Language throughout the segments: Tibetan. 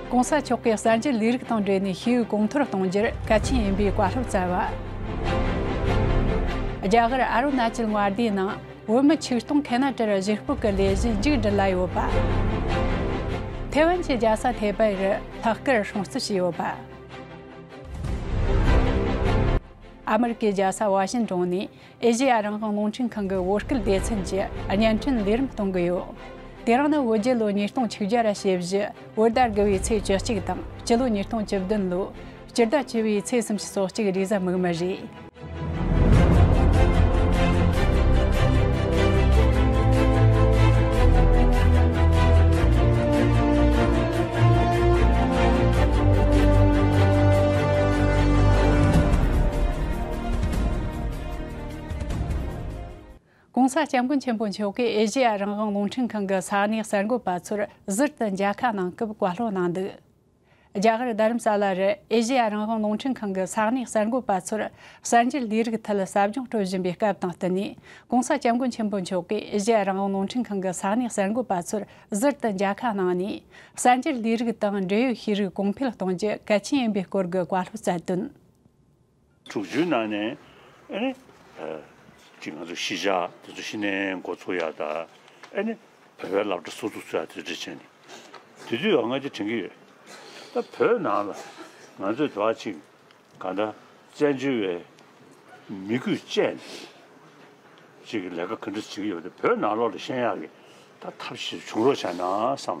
ྋགོང་ས་མཆོག་གིས་གསར་འགྱུར་ལས་རིགས་དང་འབྲེལ་ནས་ཤེས་ཡོན་གོང་མཐོར་གཏོང་རྒྱུར་གལ་ཆེན་ཡིན་པའི་བཀའ་སློབ་སྩལ་བ། རྒྱ་གར་ཨ་རུ་ན་ཅལ་མངའ་སྡེའི་ནང་བོད་མི་ཆིག་སྟོང་གྷན་ན་ཀྲར་གཞིས་སྤོས་ཀྱི་ལས་གཞི་མཇུག་སྒྲིལ་ལ་ཡོད་པ། ཐེ་ཝན་གྱི་རྒྱལ་ས་ཐེ་པེ་རུ་ལྷག་བསྐུལ་སྲུང་བརྩི་བྱས་ཡོད་པ། ཨ་མི་རི་ཀའི་རྒྱལ་ས་ཝཱ་ཤིན་ཏོན་ནས་ཨེ་ཞི་ཡ་རང་དབང་རླུང་འཕྲིན་ཁང་གི་བོད་སྐད་སྡེ་ཚན་གྱིས་བརྙན་འཕྲིན་ལས་རིམ་གཏོང་གི་ཡོད། དེ་རིང་ནི་བོད་རྒྱལ་ལོ་ཉིས་སྟོང་ཆིག་བརྒྱ་ར་ཞེ་བཞི་བོད་ཟླ་དགུ་བའི་ཚེས་བཅུ་གཅིག་དང་སྤྱི་ལོ་ཉིས་སྟོང་བཅུ་བདུན་ལོ་སྤྱི་ཟླ་བཅུ་བའི་ཚེས་སུམ་ཅུ་སོ་གཅིག་རིག་གཟའ་མིག་མི་རེད། ྋགོང་ས ྋསྐྱབས་མགོན་ཆེན་པོ་མཆོག་གིས་ཨེ་ཤེ་ཡ་རང་དབང་རླུང་འཕྲིན་ཁང་གི་ས་གནས་གསར་འགོད་པ་ཚོར་ཟུར་དུ་མཇལ་ཁ་གནང་སྐབས་བཀའ་སློབ་གནང་འདུག་རྒྱ་གར་རྡ་རམ་ས་ལ་རུ་ཨེ་ཤེ་ཡ་རང་དབང་རླུང་འཕྲིན་ཁང་གི་ས་གནས་གསར་འགོད་པ་ཚོར་གསར་འགྱུར་ལས་རིགས་ཐད་ཟབ་སྦྱོང་སྤྲོད་བཞིན་པའི་སྐབས་དང་བསྟུན་ནས ྋགོང་ས ྋསྐྱབས་མགོན་ཆེན་པོ་མཆོག་གིས་ཨེ་ཤེ་ཡ་རང་དབང་རླུང་འཕྲིན་ཁང་གི་ས་གནས་གསར་འགོད་པ་ཚོར་ཟུར་དུ་མཇལ་ཁ་གནང་ནས་གསར་འགྱུར་ལས་རིགས་དང་འབྲེལ་ཡོད་ཤེས་རིག་གོང་འཕེལ་གཏོང་རྒྱུ་གལ་ཆེན་ཡིན་པའི་སྐོར་གྱི་བཀའ་སློབ་སྩལ་དོན། དྲུག་ཅུའི་ནང་ནས་ཨེ་ནི། ཅིག་ང་ཚོ་ཤི་བཞག་དེ་ཚོ་ཤི་ནའི་འགོ་ཚུགས་ཡག་ད་ཨེ་ནི། བོད་པའི་ལབ་གྲ་སུ་ཚུགས་ཚུགས་ཡག་དེ་འདྲི་བྱེད་ནི། དེ་དུས་ཡང་ང་ཅིག་དྲན་གི་ཡོད། ད་བོད་ནང་ལ་ང་ཚོས་དེ་བ་ཅིག་ག་འདྲ་བཙན་བྱོལ་བའི་མི་རྒྱུད་བཅས་ནས་ཅིག་ལས་ཀ་ག་འདྲ་བྱེད་ཀྱི་ཡོད་ད་བོད་ནང་ལོག་ལ་ཤན་ཡག་གི་ད་ཐབས་ཤེས་བྱུང་རོགས་བྱ་ན་བསམ།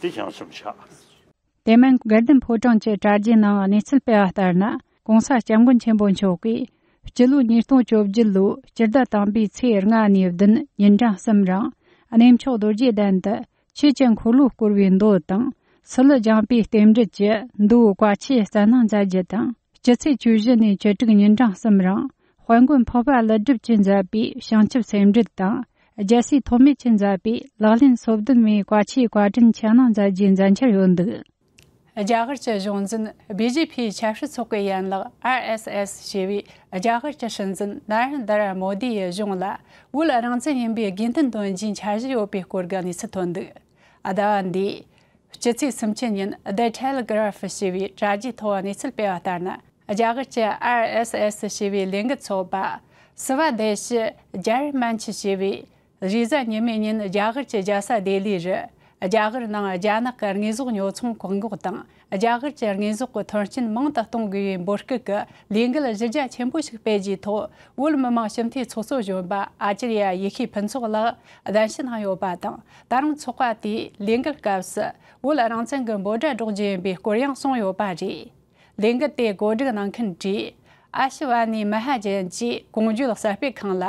འདི་བྱང་སེམས་ཆགས། དེ་མིན་སྒེར་སྡེམ་ཕོ་བྲང་བཅས་དྲ་རྒྱའི་ནང་གནས་ཚུལ་སྤེལ་བ་ལྟར་ན ྋགོང་ས ྋསྐྱབས་མགོན་ཆེན་པོ་མཆོག་གིས་སྤྱི་ལོ་ཉིས་སྟོང་བཅོ་བརྒྱད་ལོའི་སྤྱི་ཟླ་དང་པའི་ཚེས་ལྔ་ནས་བདུན་ཉིན་གྲངས་གསུམ་རིང་གནས་མཆོག་རྡོ་རྗེ་གདན་དུ་ཆོས་ཀྱི་འཁོར་ལོ་བསྐོར་བའི་མདོ་དང། སི་ལུ་རྒྱང་པའི་རྟེན་འབྲེལ་གྱི་མདོའི་བཀའ་ཆད་གསན་གནང་མཛད་རྒྱུ་དང། སྤྱི་ཚེས་བཅུ་བཞི་ནས་བཅུ་དྲུག་ཉིན་གྲངས་གསུམ་རིང་དཔལ་མགོན་འཕགས་པ་ཀླུ་སྒྲུབ་ཀྱིས་མཛད་པའི་བྱང་ཆུབ་སེམས་འགྲེལ་དང་རྒྱལ་སྲས་ཐོགས་མེད་ཀྱིས་མཛད་པའི་ལག་ལེན་སོ་བདུན་མའི་བཀའ་ཆའི་བཀའ་དྲིན་ཆེ་གནང་མཛད་རྒྱུའི་མཛད་འཆར་ཡོད་འདུག། རྒྱ་གར་གྱི་གཞུང་འཛིན་སྦི་ཇེ་ཕིའི་ཆབ་སྲིད་ཚོགས་པའི་ཡན་ལག་ཨར་ཨེས་ཨེས་ཞེས་པས་རྒྱ་གར་གྱི་སྲིད་འཛིན་ནར་ཨན་དར་མོ་དི་ཡི་གཞུང་ལ་བོད་རང་བཙན་ཡིན་པའི་དགེ་མཐུན་འདོན་རྒྱུའི་འཆར་གཞི་ཡོད་པའི་སྐོར་གྱི་གནས་ཚུལ་ཐོན་འདུག། ཟླ་བ་འདིའི་སྤྱི་ཚེས་སུམ་ཅུ་ཉིན The Telegraph ཞེས་པའི་དྲ་རྒྱའི་ཐོག་གནས་ཚུལ་སྤེལ་བ་ལྟར་ན། རྒྱ་གར་གྱི RSS ཞེས་པའི་ལས་འགུལ་ཚོགས་པ། སིབ་བ་དེ་ཤི་རྒྱར་མན་ཆི་ཞེས་པས་གཞི་གཟའ་ཉི་མའི་ཉིན་རྒྱ་གར་གྱི་རྒྱལ་ས་ལྡི་ལི་རུ་རྒྱ་གར་ནང་རྒྱ་ནག་གི་དངོས་ཟོག་ཉོ་ཚོང་བཀག་འགོག་དང་རྒྱ་གར་གྱི་དངོས་ཟོག་གི་ཐོན་སྐྱེད་མང་དུ་གཏོང་དགོས་པའི་འབོད་སྐུལ་གྱི་ལས་འགུལ་གཞི་རྒྱ་ཆེན་པོ་ཞིག་སྤེལ་རྒྱུའི་ཐོག་བོད་མི་མང་ཞི་མཐུན་ཚོགས་གཙོ་གཞོན་པ Acharya ཡེ་ཤེས་ཕུན་ཚོགས་ལགས་གདན་ཞུ་གནང་ཡོད་པ་དང་ད་རུང་ཚོགས་པ་དེའི་ལས་འགུལ་སྐབས་སུ་བོད་རང་བཙན་གྱི་འབོད་སྒྲ་སྒྲོག་རྒྱུ་ཡིན་པའི་སྐོར་ཡང་གསུངས་ཡོད་པ་རེད། ལས་འགུལ་དེ་གོ་སྒྲིག་གནང་མཁན་བཀྲིས Ashwani Mahajan གྱིས་གོང་བརྗོད་གསར་སྤེལ་ཁང་ལ་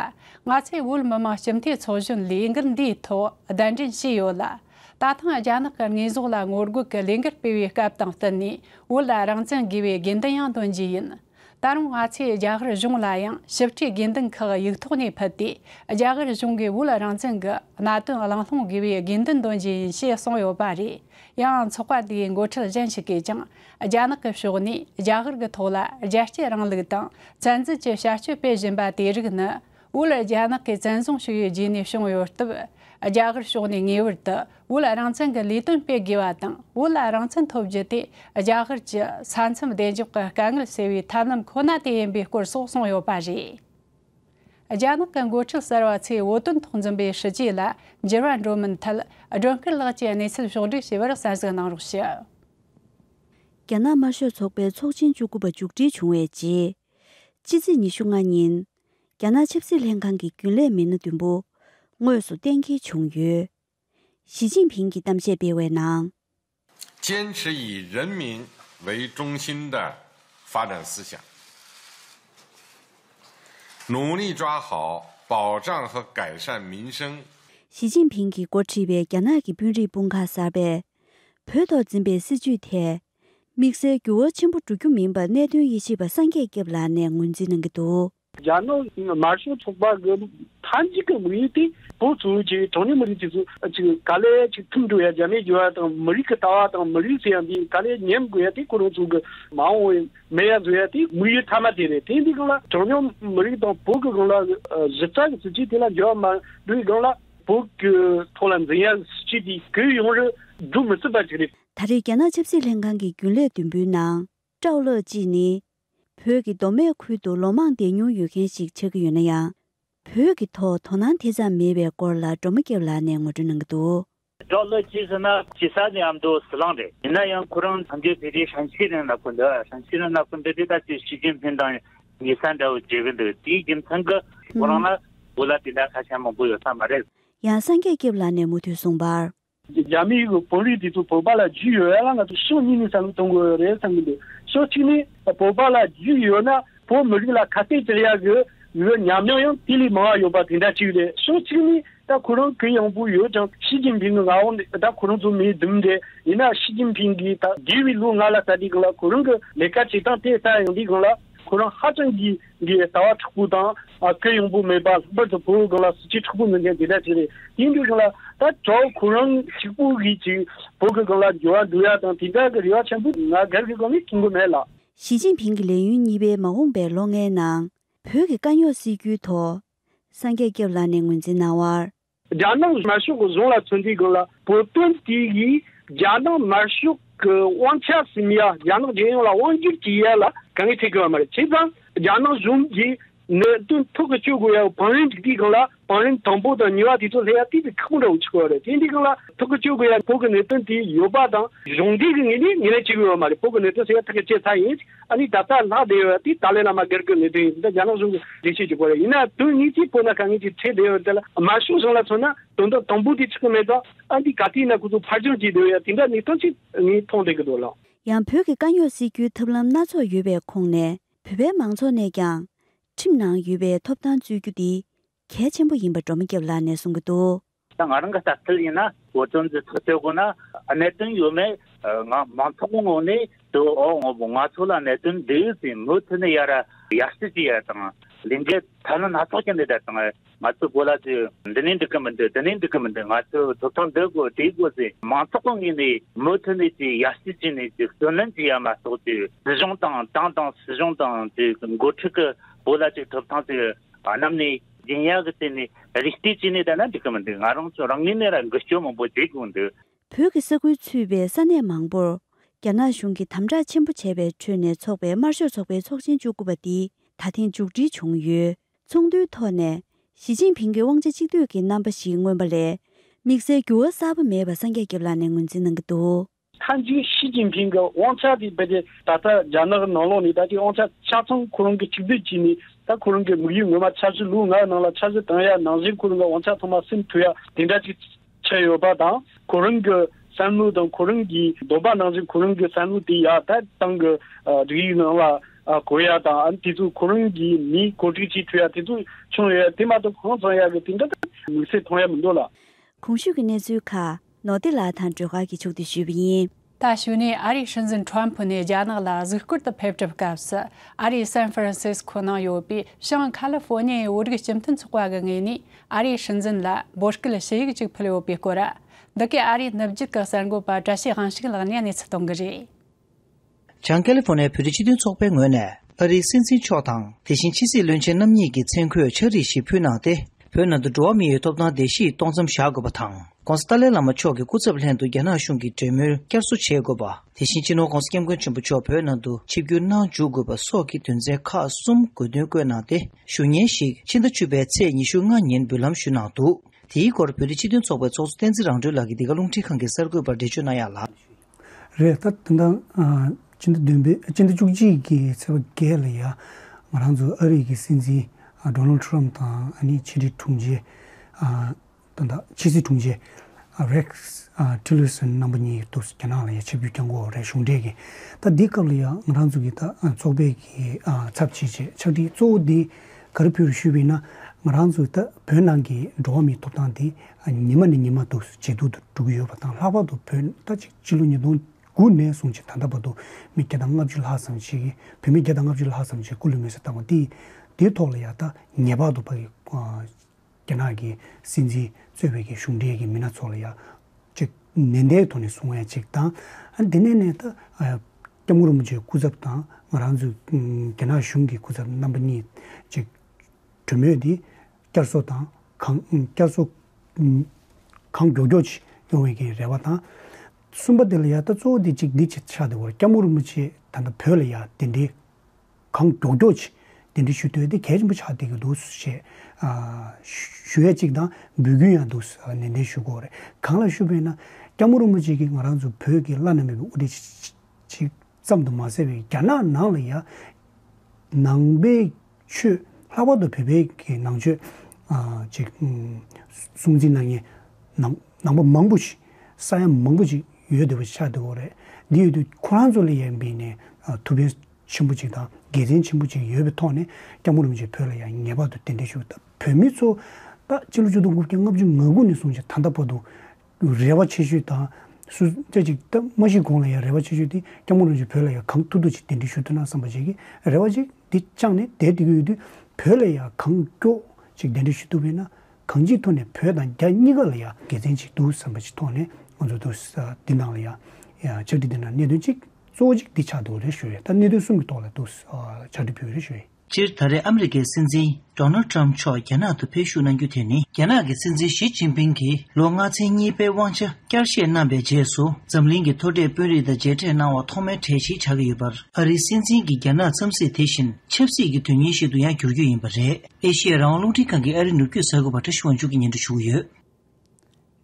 ང་ཚོས་བོད་མི་མང་ཞི་མཐུན་ཚོགས་གཞོན་ལས་འགུལ་འདིའི་ཐོག་གདན་འདྲེན་བྱས་ཡོད་ལ། ད་ཐེངས་རྒྱ་ནག་གི་དངོས་ཟོག་ལ་ངོ་རྒོལ་གྱི་ལས་འགུལ་སྤེལ་བའི་སྐབས་དང་བསྟུན་ནས་བོད་ལ་རང་བཙན་དགོས་པའི་དགེ་འདུན་ཡང་འདོན་རྒྱུ་ཡིན། ད་རུང་ང་ཚོས་རྒྱ་གར་གཞུང་ལ་ཡང་ཞིབ་ཕྲའི་དགེ་འདུན་ཁག་ཡིག་ཐོག་ནས་ཕུལ་ཏེ་རྒྱ་གར་གཞུང་གིས་བོད་རང་བཙན་གྱི་གནད་དོན་གླེང་སློང་དགོས་པའི་དགེ་འདུན་འདོན་རྒྱུ་ཡིན་ཞེས་གསུངས་ཡོད་པ་རེད། ཡང་ཚོགས་པ་དེའི་མགོ་ཁྲིད་གཞན་ཞིག་གིས་ཀྱང་རྒྱ་ནག་གི་ཕྱོགས་ནས་རྒྱ་གར་གྱི་ཐོག་ལ་རྒྱལ་གཅེས་རིང་ལུགས་དང་བཙན་འཛུལ་གྱི་བྱ་སྤྱོད་སྤེལ་བཞིན་པ་དེ་རིགས་ནི་བོད་རྒྱ་ནག་གི་བཙན་བཟུང་ཞུ་ཡུལ་རྒྱུད་ནས་བྱུང་ཡོད་སྟབས། རྒྱ་གར་ཕྱོགས་ནས་ངེས་པར་དུ་བོད་རང་བཙན་གྱི་ལས་དོན་སྤེལ་དགོས་པ་དང་བོད་རང་བཙན་ཐོབ་རྒྱུ་དེ་རྒྱ་གར་གྱི་ས་མཚམས་བདེ་འཇགས་ཀྱི་དཀའ་ངལ་སེལ་བའི་ཐབས་ལམ་ཁོ་ན་དེ་ཡིན་པའི་སྐོར་སོགས་གསུངས་ཡོད་པ་རེད། རྒྱ་ནག་གི་འགོ་ཁྲིད་གསར་བ་ཚོས་བོད་དོན་ཐོག་འཛིན་པའི་སྲིད་བྱུས་ལ་འགྱུར་བ་འགྲོ་མིན་ཐད་སྒྲོན་སྐུ་ལགས་ཀྱིས་གནས་ཚུལ་ཕྱོགས་བསྒྲིགས་བྱས་པར་གསལ་གཟིགས་གནང་རོགས་ཞུ། རྒྱ་ནག་དམར་ཤོག་ཚོགས་པའི་ཚོགས་ཆེན་བཅུ་དགུ་པ་མཇུག་སྒྲིལ་བྱུང་བའི་རྗེས། སྤྱི་ཚེས་ཉི་ཤུ་ལྔ་ཉིན། རྒྱ་ནག་ཆབ་སྲིད་ལྷན་ཁང་གི་རྒྱུན་ལས་མི་སྣ་བདུན་པོ་དངོས་སུ་གཏན་འཁེལ་བྱུང་ཡོད། ཞི་ཅིན་ཕིང་གིས་གཏམ་བཤད་སྤེལ་བའི་ནང། ཅན་ཧྲི་ཡིས་རེན་མིན་ཝེ་ཀྲུང་ཤིན་ཏེ་ཧྥ་རན་སི་ཞང་ནུང་ལི་ཀྲ་ཧའོ་པའོ་ཀྲང་ཧེ་ཀའེ་ཧྲན་མིན་ཧྲེང། ཞི་ཅིན་ཕིང་གིས་འགོ་ཁྲིད་པའི་རྒྱ་ནག་གི་དཔོན་རིགས་དཔུང་ཁག་གསར་པས་བོད་ཐོག་འཛིན་པའི་སྲིད་བྱུས་ཐད་དམིགས་བསལ་འགྱུར་བ་ཆེན་པོ་འགྲོ་རྒྱུ་མིན་པར་གནད་དོན་ཡིད་ཆེས་པ་སངས་རྒྱས་སྐྱབས་ལགས་ནས་ངོས་འཛིན་གནང་གི་འདུག། རྒྱ་ནག་དམར་ཤོག་ཚོགས་པ་གི་མཐའ་མཇུག་གི་དམིགས་ཡུལ་དེ་བོད་ཧྥུ་རུ་ཅི་གྲངས་ཉུང་མི་རིགས་དེ་ཚོ་ཅིག་ག་ལེ་ཅིག་ཐུམ་འགྲོ་ཡ་རྒྱ་མའི་འགྱུར་བ་དང་མི་རིགས་ཀྱི་ལྟ་བ་དང་མི་རིགས་ཟེར་ཡ་འདི་ག་ལེ་ཉམས་དགོས་ཡ་དེ་ཁོ་རང་ཚོ་གི་མ་འོངས་བའི་མེ་ཡ་བཟོ་ཡ་དེ་དམིགས་ཡུལ་མཐའ་མ་དེ་རེད་དེ་འདི་གང་ལ་གྲངས་ཉུང་མི་རིགས་དང་བོད་ཀྱི་གང་ལ་གཞི་རྩ་གི་སྲིད་བྱུས་དེ་ལ་འགྱུར་བ་མ་འགྲོ་ཡི་གང་ལ་བོད་ཀྱི་ཐོག་ལ་འཛིན་ཡ་སྲིད་བྱུས་དེ་གུས་ཡོང་རེ་འགྲོ་མི་སྲིད་པ་ཅིག་རེད། ད་རེས་རྒྱ་ནག་ཆབ་སྲིད་ལྷན་ཁང་གི་རྒྱུན་ལས་དུམ་བུའི་ནང་ཀྲའོ་ལགས་ཀྱིས་ནི། བོད་ཀྱི་མདོ་སྨད་ཁུལ་དུ་ལོ་མང་བསྡད་མྱོང་ཡོད་མཁན་ཞིག་ཆགས་ཀྱི་ཡོད་ན་ཡང། བོད་ཀྱི་ཐོག་དོ་སྣང་དེ་ཙམ་མེད་པའི་སྐོར་ལ་སྒྲོལ་མ་སྐྱབས་ལགས་ནས་ངོ་སྤྲོད་གནང་གི་འདུག། ཀྲའོ་ལགས་ཀྱིས་ཟེར་ན་ཇི་ས་ནས་ཡང་མདོ་སི་ལང་རེད། ཡིན་ན་ཡང་ཁོ་རང་ཐམས་ཅད་བོད་རིགས་ཧྲན་ཤིས་རིང་ལ་ཁུར་འདུག་ཧྲན་ཤིས་རིང་ལ་ཁུར་འདུག་དེ་ད་ཆོས་ཞི་ཅིན་ཕིན་དང་ཉེ་ས་འདྲ་བོ་བརྗོད་ཀྱི་འདུག་དེའི་རྒྱུ་མཚན་གྱི་ཁོ་རང་ལ་བོད་ལ་དེ་འདྲ་ཁ་ཞེ་མང་པོ་ཡོད་ས་མ་རེད། ཡང་སངས་རྒྱས་སྐྱབས་ལགས་ནས་མུ་མཐུད་གསུངས་པར། རྒྱ་མིའི་གྱི་བོད་རིགས་དེ་ཚོ་བོད་པ་ལ་རྒྱུས་ཡོད་ཡ་ལ་ང་ཚོ་ཕྱོགས་གཉིས་ནས་བསམ་བློ་གཏོང་དགོས་རེད་བསམ་གྱི་འདུག་ཕྱོགས་གཅིག་ནས་བོད་པ་ལ་རྒྱུས་ཡོད་ན་བོད་མི་རིགས་ལ་ཁ་གཏད་གཅོག་ཡ་གི་ཡོད་ཉམས་མྱོང་ཡང་དེ་ལས་མང་བ་ཡོད་པ་དེ་འདྲ་གཅིག་རེད་ཕྱོགས་གཅིག་ནས་ད་ཁོ་རང་གི་ཡང་བོད་ཡོད་ཀྱང་ཞི་ཅིན་ཕིང་གི་མངའ་འོག་ནས་ད་ཁོ་རང་ཚོ་མི་འདུམ་འདྲེ་ཡིན་ན་ཞི་ཅིན་ཕིང་གི་ད་འདས་བའི་ལོ་ལྔ་ལ་ད་དེ་གང་ལ་ཁོ་རང་གི་ལས་ཀ་བྱེད་སྟངས་དེ་ད་ཡང་དེ་གང་ལ་ཁོ་རང་ཧ་ཅང་གི། འདི་ལྟ་བ་དྲག་པོ་དང། སྐད་ཡངས་པོ་མེད་པ་ལྷག་པར་དུ་བོད་གངས་ལ་གཟི་བརྗིད་དྲག་པོ་མཛད་མཁན་དེ་འདྲ་ཞིག་རེད། ཡིན་དུས་ཀྱང་ལ་དྭགས་གྲོགས་ཁོ་རང་གཅིག་པུ་གིས་ཅིག་བོད་ཀྱི་གངས་ལ་འགྱུར་བ་འགྲོ་ཡ་དང་དེ་འདྲ་གི་རེ་བ་ཆེན་པོ་ང་སྒེར་གྱི་སྒོ་ནས་བྱུང་གི་མེད་ལ། ཞི་ཅིན་ཕིང་གི་ལས་ཡུན་གཉིས་པའི་མ་འོངས་པའི་ལོ་ལྔའི་ནང་བོད་ཀྱི་དཀའ་རྙོག་སེལ་རྒྱུའི་ཐོག་སངས་རྒྱས་སྐྱབས་ལགས་ནས་ངོས་འཛིན་གནང་བར། རྒྱ་ནག་དམར་ཤོག་གི་གཞུང་ལ་མཚོན་དུས་དགོན་ལ་བོད་དོན་དེ་ཡིས་རྒྱ་ནག་དམར་ཤོག་གི་དབང་ཆ་ཟིན་ཡ་རྒྱ་ནག་རྒྱལ་ཡོངས་ལ་དབང་སྒྱུར་བྱེད་ཡ་ལ་ག་ངེས་བྱེད་དགོས་པ་མ་རེད་བྱས་ཙང་རྒྱ་ནག་གཞུང་གི་གནད་དོན་ཐུགས་ཀྱི་གཅོད་དགོས་ཡ་བང་རིམ་དེ་དུས་གང་ལ་བང་རིམ་དང་པོ་དང་གཉིས་བ་དེ་ཚོ་ལྷད་ཡ་དེ་དུས་ཁག་པོ་འདྲ་བོ་བྱེད་དགོས་པ་རེད་དེ་དུས་གང་ལ་ཐུགས་ཀྱི་གཅོད་དགོས་ཡ་བོད་ཀྱི་གནད་དོན་དེ་ཡོད་པ་དང་གཞུང་འབྲེལ་གྱི་ངེས་ནས་ངེས་ལེན་བྱེད་དགོས་པ་མ་རེད་བོད་ཀྱི་གནད་དོན་ཟེར་ཡ་ཐུགས་ཀྱི་གཅད་ཚར་ཡིན། ཨ་ནི་ད་ལྟ་ལྷག་བསྡད་ཡོད་དེ་ཏཱ་ལའི་བླ་མ་སྒེར་དགོས་མེད་དོན་ཡིན་དེ་ནི་རྒྱ་ནག་གཞུང་གི་འགྲེལ་བཤད་ཀྱི་སྐོར་རེད་ཡིན་ནའང་དོན་དངོས་ཀྱི་སྤོ་ན་ག་ངེས་ཀྱི་ཁྲེལ་བསྡད་ཡོད་དེ་ལ་མ་ཞུ་གཞུང་ལ་མཚོན་ན་དོན་དག་དང་པོ་དེ་ཆགས་ཀྱི་མེད་ཙང་ཨ་འདི་ག་དེ་ན་ཁོ་ཚོ་ཕར་བྱུང་བྱས་བསྡད་ཡོད་དེ་འདྲ་ནི་ཐོན་ཆེད་ངས་མཐོང་བསྡད་ཀྱི་འདུག་ལགས། ཡང་བོད་ཀྱི་དཀའ་རྙོག་སེལ་རྒྱུའི་ཐབས་ལམ་སྣ་ཚོགས་ཡོད་པའི་ཁོངས་ནས་བོད་པའི་མང་ཚོགས་ནས་ཀྱང་ཁྲིམས་ནང་ཡོད་པའི་ཐོབ་ཐང་རྩོད་རྒྱུ་འདི་གལ་ཆེན་པོ་ཡིན་པ་སྒྲོལ་མ་སྐྱབས་ལགས་ནས་གསུང་གི་འདུག། ད་ང་རང་གི་ལྟ་ཚུལ་ཡིན་ན་བོད་དོན་གྱི་ཐག་གཅོད་དགོས་ན་གནད་དོན་ཡོད་མེད་ང་མང་ཚོགས་ཀྱི་ངོས་ནས་དུའོ་ང་ཚོ་ལ་གནད་དོན་འདི་ཡོད་ཅེས་མུ་མཐུད་ནས་ཡར་ཡར་སྲིད་ཀྱི་ཡ་དང་ལས་འགན་ཐ་ན་སྣ་ཚོགས་ཀྱི་འདི་དག་དང་ང་ཚོའི་གོ་ལ་དེ་འདི་ནས་འགྲིག་གི་མི་འདུག་དེ་ནས་འགྲིག་གི་མི་འདུག་ང་ཚོའི་ཐོབ་ཐང་འདི་དགོས་དེ་དགོས་ཞེས་མང་ཚོགས་ཀྱི་ངོས་ནས་མུ་མཐུད་ནས་ཀྱི་ཡར་སྲིད་བྱས་ནས་ཀྱི་བརྩོན་ལེན་བྱས་ཡ་མ་གཏོགས་ཀྱི་སྲིད་གཞུང་དང་ཏང་དང་སྲིད་གཞུང་དང་ཀྱི་འགོ་ཁྲིད་ཀྱི་གོ་ལ་ཀྱི་ཐོབ་ཐང་དེ་བ་རྣམས་ནི་རྒྱན་ཡག་གི་རྩེ་ནས་རིགས་གཏེར་ཅི་ནས་བལྟས་ན་འགྲིག་གི་མི་འདུག་ང་རང་ཚོ་རང་ཉིད་ནས་རང་འགུལ་སྐྱོད་མང་པོ་བྱེད་དགོས་འདུག། བོད་ཀྱི་ས་ཁུལ་ཚུད་པའི་ས་གནས་མང་པོར་རྒྱ་ནག་གཞུང་གིས་དམ་དྲག་ཆེན་པོ་བྱས་པའི་ཁྲོད་ནས་ཚོགས་པའི་དམར་ཤོག་ཚོགས་པའི་ཚོགས་ཆེན་བཅུ་དགུ་པ་འདི་ད་ཐེངས་མཇུག་སྒྲིལ་བྱུང་ཡོད། ཚོགས་འདུའི་ཐོག་ནས་ཞི་ཅིན་ཕིང་གིས་དབང་ཆ་གཅིག་སྡུད་ཀྱི་རྣམ་པ་ཞིག་མངོན་པ་ལས་དམིགས་བསལ་འགྱུར་བ་གསར་པ་མེད་པ་སངས་རྒྱས་ལགས་ནས་ངོས་འཛིན་གནང་གི་འདུག། མཐའ་མཇུག་ཞི་ཅིན་ཕིང་གི་དབང་ཆ་དེ་རྦད་དེ་ད་ལྟ་རྒྱ་ནག་ནང་ལོགས་ནས་ད་ལྟའི་དབང་ཆ་ཆ་ཚང་ཁོ་རང་གི་ཁྲིག་སྡུད་བྱས་ནས་ད་ཁོ་རང་གི་དམིགས་ཡུལ་ངོ་མ་འཆར་གཞི་ལུགས་ངག་ནང་ལ་འཆར་གཞི་གང་ཡག་ནང་བཞིན་ཁོ་རང་གི་དབང་ཆ་ཚང་མ་སིམ་ཐུ་ཡག་དེ་འདྲ་ཅིག་ཆགས་ཡོད་པ་དང་ཁོ་རང་གི་བསམ་བློ་དང་ཁོ་རང་གི་འདོད་པ་ནང་བཞིན་ཁོ་རང་གི་བསམ་བློ་དེ་ཡག་ད་ཏང་གི་སྒྲིག་ཡིག་ནང་ལ་གོ་ཡག་དང་ཨ་དེ་ཚོ་ཁོ་རང་གི་མིས་གོ་སྒྲིག་བྱས་ཐུ་ཡག་དེ་ཚོ་བྱུང་ཡོད་དེ་མ་གཏོགས་གང་ཚང་ཡག་གི་དེ་འདྲ་དུ་དམིགས་བསལ་མཐོང་ཡག་མི་འདུག་ལ། གོང་ཞུས་ཀྱི་གནས་ཚུལ་ཁག་ནོར་ཏི་ལགས་དང་སྒྲོལ་དཀར་གྱིས་ཕྱུག་འདུས་ཞུས་པ་ཡིན། ད་ཞུ་ནས་ཨ་རིའི་སྲིད་འཛིན་ཁྲོམ་ཕུ་ནས་རྒྱ་ནག་ལ་གཟིགས་སྐོར་དུ་ཕེབས་གྲབས་སྐབས་སུ་ཨ་རིའི་སན་ཧྥི་རན་སིས་ཁོ་ནང་ཡོད་པའི་ཤང་ཁ་ལི་ཧྥོ་ནི་ཡའི་བོད་རིགས་སྤྱི་མཐུན་ཚོགས་པ་གི་ངོས་ནས་ཨ་རིའི་སྲིད་འཛིན་ལ་འབོད་སྐུལ་ཞུ་ཡིག་ཅིག་ཕུལ་ཡོད་པའི་སྐོར། འདི་གའི་ཨ་རིའི་ནུབ་རྒྱུད་ཀྱི་གསར་འགོད་པ་བཀྲ་ཤིས་དབང་ཕྱུག་ལགས་ནས་གནས་ཚུལ་གཏོང་གི་རེད། བྱང་ཀེ་ལི་ཧྥོ་ནེ་བོད་རིགས་སྤྱི་མཐུན་ཚོགས་པའི་ངོས་ནས་ཨ་རིའི་སྲིད་འཛིན་མཆོག་དང་དེ་བཞིན་ཕྱི་སྲིད་བློན་ཆེན་རྣམ་གཉིས་ཀྱི་མཚན་འཁོད་ཕྱག་རིས་ཤིག་ཕུལ་གནང་སྟེ་བོད་ནང་དུ་འགྲོ་བ་མི་ཡོད་ཐོབ་ཐང་བརྡལ་བཤིག་གཏོང་མཚམས་བཞག་དགོས་པ་དང ྋགོང་ས་ཏཱ་ལའི་བླ་མ་མཆོག་གི་སྐུ་ཚབ་ལྷན་དུ་རྒྱ་ནག་གཞུང་གི་གྲོས་མོལ་བསྐྱར་གསོ་བྱེད་དགོས་པ་དེ་བཞིན་སྤྱི་ནོར ྋགོང་ས ྋསྐྱབས་མགོན་ཆེན་པོ་མཆོག་བོད་ནང་དུ་ཆིབས་བསྒྱུར་གནང་འཇུག་དགོས་པ་སོགས་ཀྱི་དོན་ཚན་ཁག་གསུམ་དགོས་འདུན་བཀོད་གནང་སྟེ་ཞུ་སྙན་ཞིག་ཕྱི་ཟླ་བཅུ་པའི་ཚེས་ཉི་ཤུ་ལྔ་ཉིན་འབུལ་ལམ་ཞུས་གནང་འདུག་དེའི་སྐོར་བོད་རིགས་སྤྱི་མཐུན་ཚོགས་པའི་ཚོགས་གཙོ་བསྟན་འཛིན་རང་གྲོལ་ལགས་ཀྱིས་འདི་ག་རླུང་འཕྲིན་ཁང་གི་གསར་འགོད་པར་འགྲེལ་བརྗོད་གནང་ཡག་ལགས། རེད་ད། དེ་འདྲ་སྤྱི་ཟླ་བདུན་པའི་སྤྱི་ཟླ་བཅུ་གཅིག་གི་ཚེས་པ་བརྒྱད་ལ་ཡང་ང་རང་ཚོའི་ཨ་རིག་གི་སྲིད་འཛིན Donald Trump དང་ཕྱི་དྲིལ་དྲུང་ཆེ་དོན་དག་ཕྱི་སྲིད་དྲུང་ཆེ Rex Tillerson རྣམ་པ་གཉིས་ཐུག་སོང་རྒྱ་ནག་ལ་ཡང་ཆབ་ཡུལ་གྱང་གོ་རེ་གཞུང་འབྲེལ་གྱི་ད་འདི་སྐབས་ལ་ཡང་ང་རང་ཚོ་གི་ད་ཚོགས་པའི་གི་ཚབ་བྱེད་ཆེད་ཕྱག་བྲིས་གཙོ་བོ་འདི་ག་རེ་ཕུལ་རེ་ཞུས་པས་ན་ང་རང་ཚོའི་ད་བོད་ནང་གི་འགྲོ་བ་མིའི་ཐོབ་ཐང་དེ་ཉི་མ་ནས་ཉི་མ་དུས་སུ་ཇེ་སྡུག་ཏུ་འགྲོ་གི་ཡོད་པ་དང་ལྷག་པར་དུ་བོད་ཟླ་གཅིག་ཕྱི་ལོ་ཉིས་སྟོང་དགུ་ནས་བཟུང་ཕྱི་ད་ལྟ་བར་དུ་མི་བརྒྱ་དང་ལྔ་བཅུ་ལྷག་ཙམ་ཞིག་བོད་མི་བརྒྱ་དང་ལྔ་བཅུ་ལྷག་ཙམ་ཞིག་སྐུ་ལུས་མེར་བསྲེགས་བཏང་བ་དེ་དེའི་ཐོག་ལ་ཡང་དང་ངེས་པར་དུ་ཕ་གི་རྒྱ་ནག་གི་སྲིད་འཛིན་གཙོས་བོད་ཀྱི་གཞུང་འབྲེལ་གྱི་མི་སྣ་ཚོ་ལ་ཡང་གཅིག་ནན་ཏན་ཐོག་ནས་གསུང་བ་ཡང་གཅིག་དང། དེ་ནས་ནས་ད་སྐྱབས་མགོན་རིན་པོ་ཆེའི་སྐུ་ཚབ་དང་ང་རང་ཚོའི་རྒྱ་ནག་གཞུང་གི་སྐུ་ཚབ་རྣམ་པ་གཉིས་གཅིག་གྲོས་མོལ་དེ། བསྐྱར་གསོ་དང་གང་བསྐྱར་གསོ། གང་མགྱོགས་མགྱོགས་ཀྱིས་ཡོང་བའི་གི་རེ་བ་དང། གསུམ་པ་དེ་ལ་ཡང་ལྟ་གཙོ་བོ་དེ་གཅིག་འདི་ཆེད་ཆགས་དེ་བར་སྐྱ་མུར་མུར་ཆེད་ད་ལྟ་བོད་ལ་ཡང་དེ་འདྲའི། གང་མགྱོགས་མགྱོགས་ཀྱིས་དེ་འདྲའི་ཞུ་འདོད་དེ་གལ་ཆེན་པོ་ཆགས་བསྡད་ཀྱི་འདུག་ཞེས། ཞུ་ཡས་གཅིག་དང་འབུལ་རྒྱུ་ཡང་འདུག་ནན་ཏན་ཞུ་དགོས་རེད་གང་ལ་ཞུ་བས་ན། སྐྱ་མུར་མུར་ཅིག་གིས་ང་རང་ཚོ་བོད་ཀྱི་བླ་ན་མེད་པའི་དབུ་སྟེགས་ཅིག། ཙམ་དུ་མ་ཟད་པའི་རྒྱ་ནག་ནང་ལ་ཡང་ནང་པའི་ཆོས་ལྷག་པར་དུ་བོད་པའི་གི་ནང་ཆོས་ཀྱི་སྲུང་འཛིན་གནང་མཁན་ནང་ནང་པ་མང་པོ་ཞིག་ས་ཡ་མང་པོ་ཞིག་ཡོད་འདུག་པ་ཆགས་འདུག་པ་རེད། འདི་ཡོད་དུས་ཁོ་རང་ཚོ་ལ་ཡང་བསྟེན་ནས་ཐུགས་ཕན་ཆེན་པོ་ཅིག་དང་དགེ་མཚན་ཆེན་པོ་ཅིག་ཡོད་པའི་ཐོག་ནས་སྐྱབས་མགོན་རིན་པོ་ཆེ་བོད་ལ་ཡང་ངེས་པར་དུ་གདན་འདྲེན་ཞུ་དང་བོད་མི་ཚོ་ད་སྤྱི་ལོ་བཅུ་དང་དགུ་བརྒྱ་ལྔ་བཅུ་ང་དགུ་ནས་བཟུང་ཞིང་ད་ལྟ་བར་དུ་རེ་བ་ཆེ་ཤོས་དང། སུ་སྐྱ་ཅིག་སྟབས་མ་ཤི་གོང་ལ་ཡང་རེ་བ་ཆེ་ཤོས་དེ་སྐྱ་མོ་རང་བཞིན་བོད་ལ་ཡང་གང་ཐུབ་ཐུབ་ཅིག་གདན་འདྲེན་ཞུ་ཐུབ་ན་བསམ་པ་བྱས་ཀྱི་རེ་བ་ཅིག་དེ་བཅངས་ནས་དལ་དེ་གི་འོས་དུས་བོད་ལ་ཡང་གང་མགྱོགས་ཅིག་གདན་འདྲེན་ཞུ་ཐུབ་པས་ན་གང་ཅིའི་ཐོག་ནས་བོད་དང་རྒྱ་གཉིས་ཀ་ལ་ཡང་དགེ་མཚན་ཅིག་འདུག་བསམ་པ་ཅིག་ཐོག་ནས་ང་ཚོ་དུས་འདི་ནང་ལ་ཡང་ཕྱག་བྲིས་འདི་ནང་གནད་དོན་གཅིག་གཙོ་བོ་གཅིག་འདི་ཆགས་འདུག་རེ་ཞུ་ཡོད་ད་གནད་དོན་གསུམ་གི་ཐོག་ལ་འདུག་ཕྱག་བྲིས་ཕུལ་བའི་རེ་ཞུ་ཡིན། སྤྱིར་ད་རེས་ཨ་མི་རི་ཀའི་སྲིད་འཛིན Donald Trump མཆོག་རྒྱ་ནག་ཏུ་ཕེབས་བཞུགས་གནང་རྒྱུ་དེ་ནི་རྒྱ་ནག་གི་སྲིད་འཛིན་ཞི་ཅིན་ཕིང་གིས་ལོ་ལྔ་ཚན་གཉིས་པའི་དབང་ཆ་བསྐྱར་བཞེས་གནང་པའི་རྗེས་སུ་འཛམ་གླིང་གི་མཐོ་གྲས་དཔོན་རིགས་དང་མཇལ་འཕྲད་གནང་བ་ཐོག་མའི་གྲས་ཤིག་ཆགས་ཀྱི་ཡོད་པར་ཨ་རིའི་སྲིད་འཛིན་གྱི་རྒྱ་ནག་འཚམས་གཟིགས་དེ་བཞིན་ཆབ་སྲིད་ཀྱི་དོན་སྙིང་ཞིག་ཏུ་ཡང་འགྱུར་རྒྱུ་ཡིན་པ་རེད། ཨེ་ཤེ་ཡ་རང་དབང་རླུང་འཕྲིན་ཁང་གི་ཨ་རི་ནུབ་རྒྱུད་གསར་འགོད་པ Tracy Wang མཇུག་གི་ཉིན་དུ་ཞུགས་ཡོད།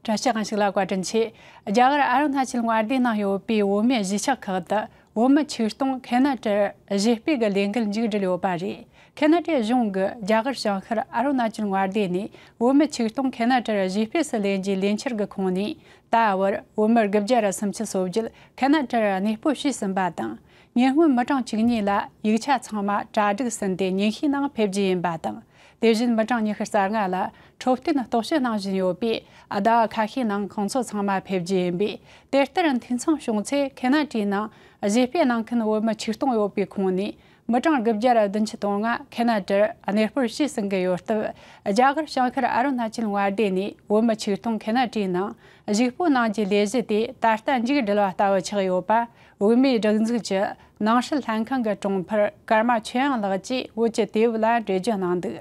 བཀྲ་ཤིས་གང་ཞིག་ལ་བཀའ་དྲིན་ཆེ། རྒྱ་གར་ཨར་ན་ཆིལ་དངར་སྡེའི་ནང་ཡོད་པའི་བོད་མི་གཞིས་ཆགས་ཁག་ཏུ་བོད་མི་ཆིག་སྟོང་གྷན་ན་ཀྲར་གཞིས་སྤེལ་གྱི་ལས་འགུལ་མཇུག་སྒྲིལ་ཡོད་པ་རེད། གྷན་ན་ཀྲའི་གཞུང་གིས་རྒྱ་གར་བྱང་ཤར་ཨར་ན་ཅིལ་དངར་སྡེ་ནས་བོད་མི་ཆིག་སྟོང་གྷན་ན་ཀྲར་གཞིས་སྤེལ་སུ་ལེན་རྒྱུའི་ལས་འཆར་གི་ཁོངས་ནས་ད་བར་བོད་མི་དགུ་བརྒྱ་རེ་སུམ་ཅུ་སོ་བརྒྱད་གྷན་ན་ཀྲར་གནས་སྤོ་བྱས་ཟིན་པ་དང། ཉེ་སྔོན་མི་གྲངས་བཅུ་གཉིས་ལ་ཡིག་ཆ་ཚང་མ་གྲ་སྒྲིག་ཟིན་ཏེ་ཉིན་ཤས་ནང་ཕེབས་རྒྱུ་ཡིན་པ་དང། དེ་བཞིན་མི་གྲངས་ཉི་ཤུ་རྩ་ལྔ་ལ་འཕྲོད་བསྟེན་རྟོག་དཔྱོད་གནང་བཞིན་ཡོད་པས་ཟླ་བ་ཁ་ཤས་ནང་ཁོང་ཚོ་ཚང་མ་ཕེབས་རྒྱུ་ཡིན་པས་དེ་ལྟར་འཐུས་ཚང་བྱུང་ཚེ་ཁེ་ན་ཀྲིའི་ནང་གཞས་སྤེལ་གནང་མཁན་བོད་མི་ཆིག་སྟོང་ཡོད་པའི་ཁོངས་ནས་མི་གྲངས་དགུ་བརྒྱ་རེ་བདུན་ཅུ་དོན་ལྔ་ཁེ་ན་ཀྲིར་གནས་སྤོར་བྱས་ཟིན་གི་ཡོད་སྟབས་རྒྱ་གར་བྱང་ཤར་ཨ་རུ་ན་ཅལ་མངའ་སྡེ་ནས་བོད་མི་ཆིག་སྟོང་ཁེ་ན་ཀྲིའི་ནང་གཞིགས་སྤོ་གནང་རྒྱུའི་ལས་གཞི་དེ་ད་ལྟ་མཇུག་སྒྲིལ་བ་ལྟ་བུ་ཆགས་ཡོད་པ་བོད་མིའི་སྒྲིག་འཛུགས་ཀྱི་ནང་སྲིད་ལྷན་ཁང་གི་དྲུང་འཕར་ཀརྨ་ཆོས་དབྱངས་ལགས་ཀྱིས་བོད་ཀྱི་དེབ་ལ་འགྲེལ་བརྗོད་གནང་འདུག་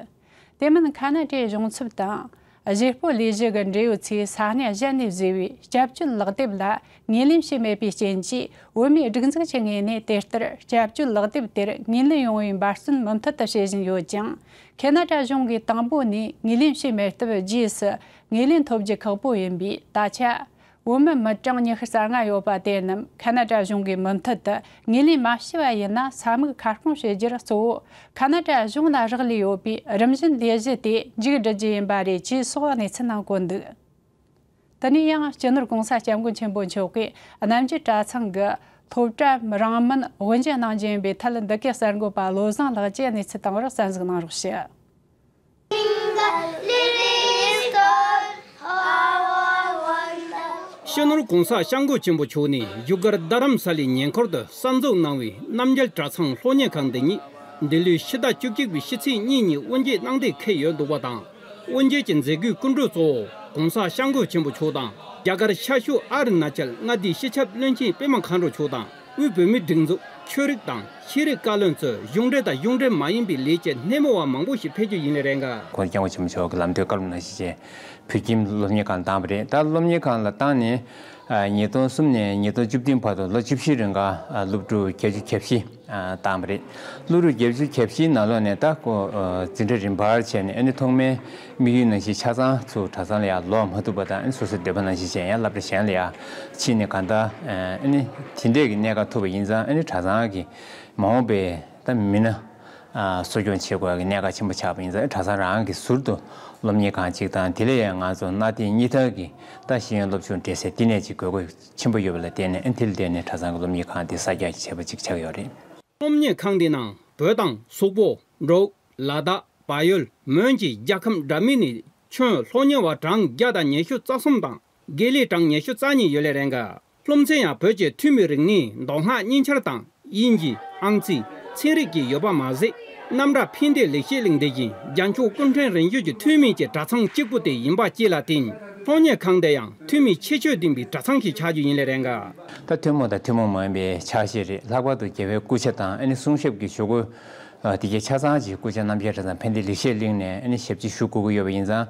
དེ་མིན་ཁ་ན་ཏྲའི་གཞུང་ཚབ་དང། གཞིས་སྤོ་ལས་གཞི་གི་འབྲེལ་ཡོད་ཚོས་ས་གནས་གཞན་ནས་བཟོས་པའི་སྐྱབས་བཅོལ་ལག་དེབ་ལ་ངེས་ལེན་བྱས་མེད་པའི་རྐྱེན་གྱིས་བོད་མིའི་སྒྲིག་འཛུགས་ཀྱི་ངོས་ནས་དེ་ལྟར་སྐྱབས་བཅོལ་ལག་དེབ་དེར་ངོས་ལེན་ཡོང་བའི་འབར་བརྩོན་མུ་མཐུད་དུ་བྱེད་བཞིན་ཡོད་ཀྱང། ཁེ་ན་ཏྲ་གཞུང་གིས་དང་པོ་ནས་ངོས་ལེན་བྱས་མེད་སྟབས་རྗེས་སུ་ངོས་ལེན་ཐོབ་རྒྱུ་ཁག་པོ་ཡིན་པས་ད་ཆ། བོད་མི་མི་གྲངས་ཉི་ཤུ་རྩ་ལྔ་ཡོད་པ་དེ་རྣམས་ཁ་ན་ཏྲ་གཞུང་གི་མུ་མཐུད་དུ་ངོས་ལེན་མ་བྱས་པ་ཡིན་ན་ས་དམིགས་ཁ་སྐོང་བྱེད་རྒྱུར་གཙོ་བོ་ཁ་ན་ཏྲ་གཞུང་ལ་རག་ལས་ཡོད་པས་རིམ་བཞིན་ལས་གཞི་དེ་མཇུག་བསྒྲིལ་རྒྱུ་ཡིན་པ་རེད་ཅེས་སོགས་གནས་ཚུལ་རྣམས་བཀོད་འདུག་དེ་ནས་ཡང་སྤྱི་ནོར་གོང་ས་སྐྱབས་མགོན་ཆེན་པོ་མཆོག་གིས་རྣམ་རྒྱལ་གྲྭ་ཚང་གི་ཐོབ་གྲྭའམ་རང་མིན་དབུ་འབྱེད་གནང་རྒྱུ་ཡིན་པའི་ཐད་འདི་གའི་གསར་འགོད་པ་བློ་བཟང་ལགས་ཀྱིས་གནས་ཚུལ་དང་པོར་གསར་འཛུགས་གནང་རོགས་ཞུ། གཤེན་ནོར་གོང་ས་ཤངས་སྒོ་ཆེན་པོ་མཆོག་ནས་རྒྱུ་སྐར་རྡ་རམ་ས་ལའི་ཉེ་འཁོར་དུ་གསར་འཛུགས་གནང་བའི་རྣམ་རྒྱལ་གྲྭ་ཚང་ལྷོ་སྙེ་ཁང་འདི་ཉིད་འདི་ལོའི་ཕྱི་ཟླ་བཅུ་གཅིག་པའི་ཕྱི་ཚེས་གཉིས་ཉིན་དབུ་འབྱེད་གནང་ཐེངས་ཁེལ་ཡོད་འདུག་པ་དང་དབུ་འབྱེད་ཀྱི་མཛད་སྒོའི་སྐུ་མགྲོན་གཙོ་བོ་གོང་ས་ཤངས་སྒོ་ཆེན་པོ་མཆོག་དང་རྒྱ་གར་ཤར་ཤུག་ཨ་རི་ན་ཅལ་མངའ་སྡེའི་སྤྱི་ཁྱབ་བློན་ཆེན་པད་མ་མཁའ་འགྲོ་མཆོག་དང། དབུས་བོད་མིའི་སྒྲིག་འཛུགས་ཆོས་རིག་དང་ཤེས་རིག་བཀའ་བློན་ཚོས་གཞུང་འབྲེལ་དང་གཞུང་འབྲེལ་མ་ཡིན་པའི་ལས་བྱེད་སྣེ་མོ་བ་མང་པོ་ཞིག་ཕེབས་རྒྱུ་ཡིན་ལེ་རེད་འགའ། ཁོང་རྐྱང་བ་ཆེན་མོ་མཆོག་གི་ལམ་གྲོན་བཀའ་སློབ་གནང་ཞིག་ཅེས་བོད་ཁྱིམ་སློབ་གཉེར་ཁང་བཏང་བ་རེད་ད་སློབ་གཉེར་ཁང་ལ་བཏང་ནས་ཉིས་སྟོང་གསུམ་ནས་ཉིས་སྟོང་བཅུ་བདུན་བར་དུ་ལོ་བཅུ་བཞི་རེ་འགའ་སློབ་ཕྲུག་བརྒྱད་ཅུ་གྱ་བཞི་བཏང་བ་རེད་སློབ་ཕྲུག་བརྒྱད་ཅུ་གྱ་བཞིའི་ནང་ལོགས་ནས་ད་ཀོ་ཛི་འདྲ་རིན་བར་བྱས་ནས་ཨ་ནི་ཐོག་མའི་དམིགས་ཡུལ་ནང་བཞིན་ཆ་ཚང་ཚུལ་གྲྭ་ཚང་ལ་ཡང་ལོག་མ་ཐུབ་པ་དང་སོ་སོའི་སྡོད་པ་ནང་བཞིན་བྱས་ཡང་བསླབ་གྲྭ་གཞན་ལ་ཡང་ཕྱིན་ནས་གང་ལྟར་དེ་འདྲས་ཀྱི་གནད་འགག་ཐུབ་པ་ཡིན་ཙང་གྲྭ་ཚང་གི་མ་འོངས་པའི་མི་སྣ་གསོ་སྐྱོང་བྱེད་དགོས་པའི་གནད་འགག་ཆེན་པོ་ཆགས་པ་ཡིན་ཙང་གྲྭ་ཚང་རང་གིས་ཟུར་དུ་སློབ་གཉེར་ཁང་གཅིག་དང་དེ་ལས་ཡང་ང་ཚོ་གནའ་དེང་གཉིས་ཐར་གྱི་རྟགས་ཤེས་ཡོན་སློབ་ཆུང་འབྲེལ་སའི་བསྟི་གནས་གཅིག་དགོས་མཁོ་ཆེན་པོ་ཡོད་པ་ལ་བརྟེན་ནས་དེ་ལ་བརྟེན་ནས་གྲྭ་ཚང་གི་སློབ་གཉེར་ཁང་དེ་གསར་རྒྱག་བྱེད་པ་ཅིག་ཆགས་ཡོད་རེད། སློབ་གཉེར་ཁང་དེའི་ནང་བོད་དང་སོག་པོ་འབྲུག་ལ་དྭགས་བལ་ཡུལ་མོན་གྱི་རྒྱལ་ཁམས་འདྲ་མིན་ནི་ཆོན་ལྷོ་ཉེ་བ་གྲངས་བརྒྱ་དང་ཉི་ཤུ་རྩ་གསུམ་དང་དགེ་ལེགས་གྲངས་ཉི་ཤུ་རྩ་གཉིས་ཡོད་ལས་རེ་འགའ་ལྷུམ་མཚན་ཡང་བོད་ཀྱི་ཐུན་མིན་རིག་གནས་མདོ་སྔགས་གཉིས་ཆར་དང་དབྱིན་ཇི་ཨང་རྩིས་ཚན་རིག་གི་ཡོད་པ་མ་ཟད་རྣམ་གྲྭ་ཕན་བདེ་ལེགས་བཤད་གླིང་དེ་བཞིན་རྒྱ་མཆོག་ཀུན་ཕྲན་རིན་ཆོད་ཀྱི་ཐུན་མིན་གྱི་གྲྭ་ཚང་གཅིག་པུ་དེ་ཡིན་པ་བཅས་ལ་བརྟེན་ལྷོ་ཉེ་ཁང་འདི་ཡང་ཐུན་མིན་ཁྱད་ཆོས་ལྡན་པའི་གྲྭ་ཚང་ཞིག་ཆགས་རྒྱུ་ཡིན་ལས་རེ་འགའ། ད་ཐུན་མོང་དང་ཐུན་མོང་མ་ཡིན་པའི་ཕྱག་བཞེས་རེད་ལྷག་པར་དུ་རྒྱལ་བའི་སྐུ་ཕྱྭ་དང་ཨ་ནི་གསུང་ཞབས་ཀྱི་ཆོས་སྐུ། དེ་རྗེས་ཆ་ཚང་གཅིག་སྐུ་ཚེ་རྣམ་རྒྱལ་གྲྭ་ཚང་ཕན་བདེ་ལེགས་བཤད་གླིང་ནས་ཞབས་ཕྱི་ཞུ་དགོས་ཀྱི་ཡོད་པ་ཡིན་ཙང་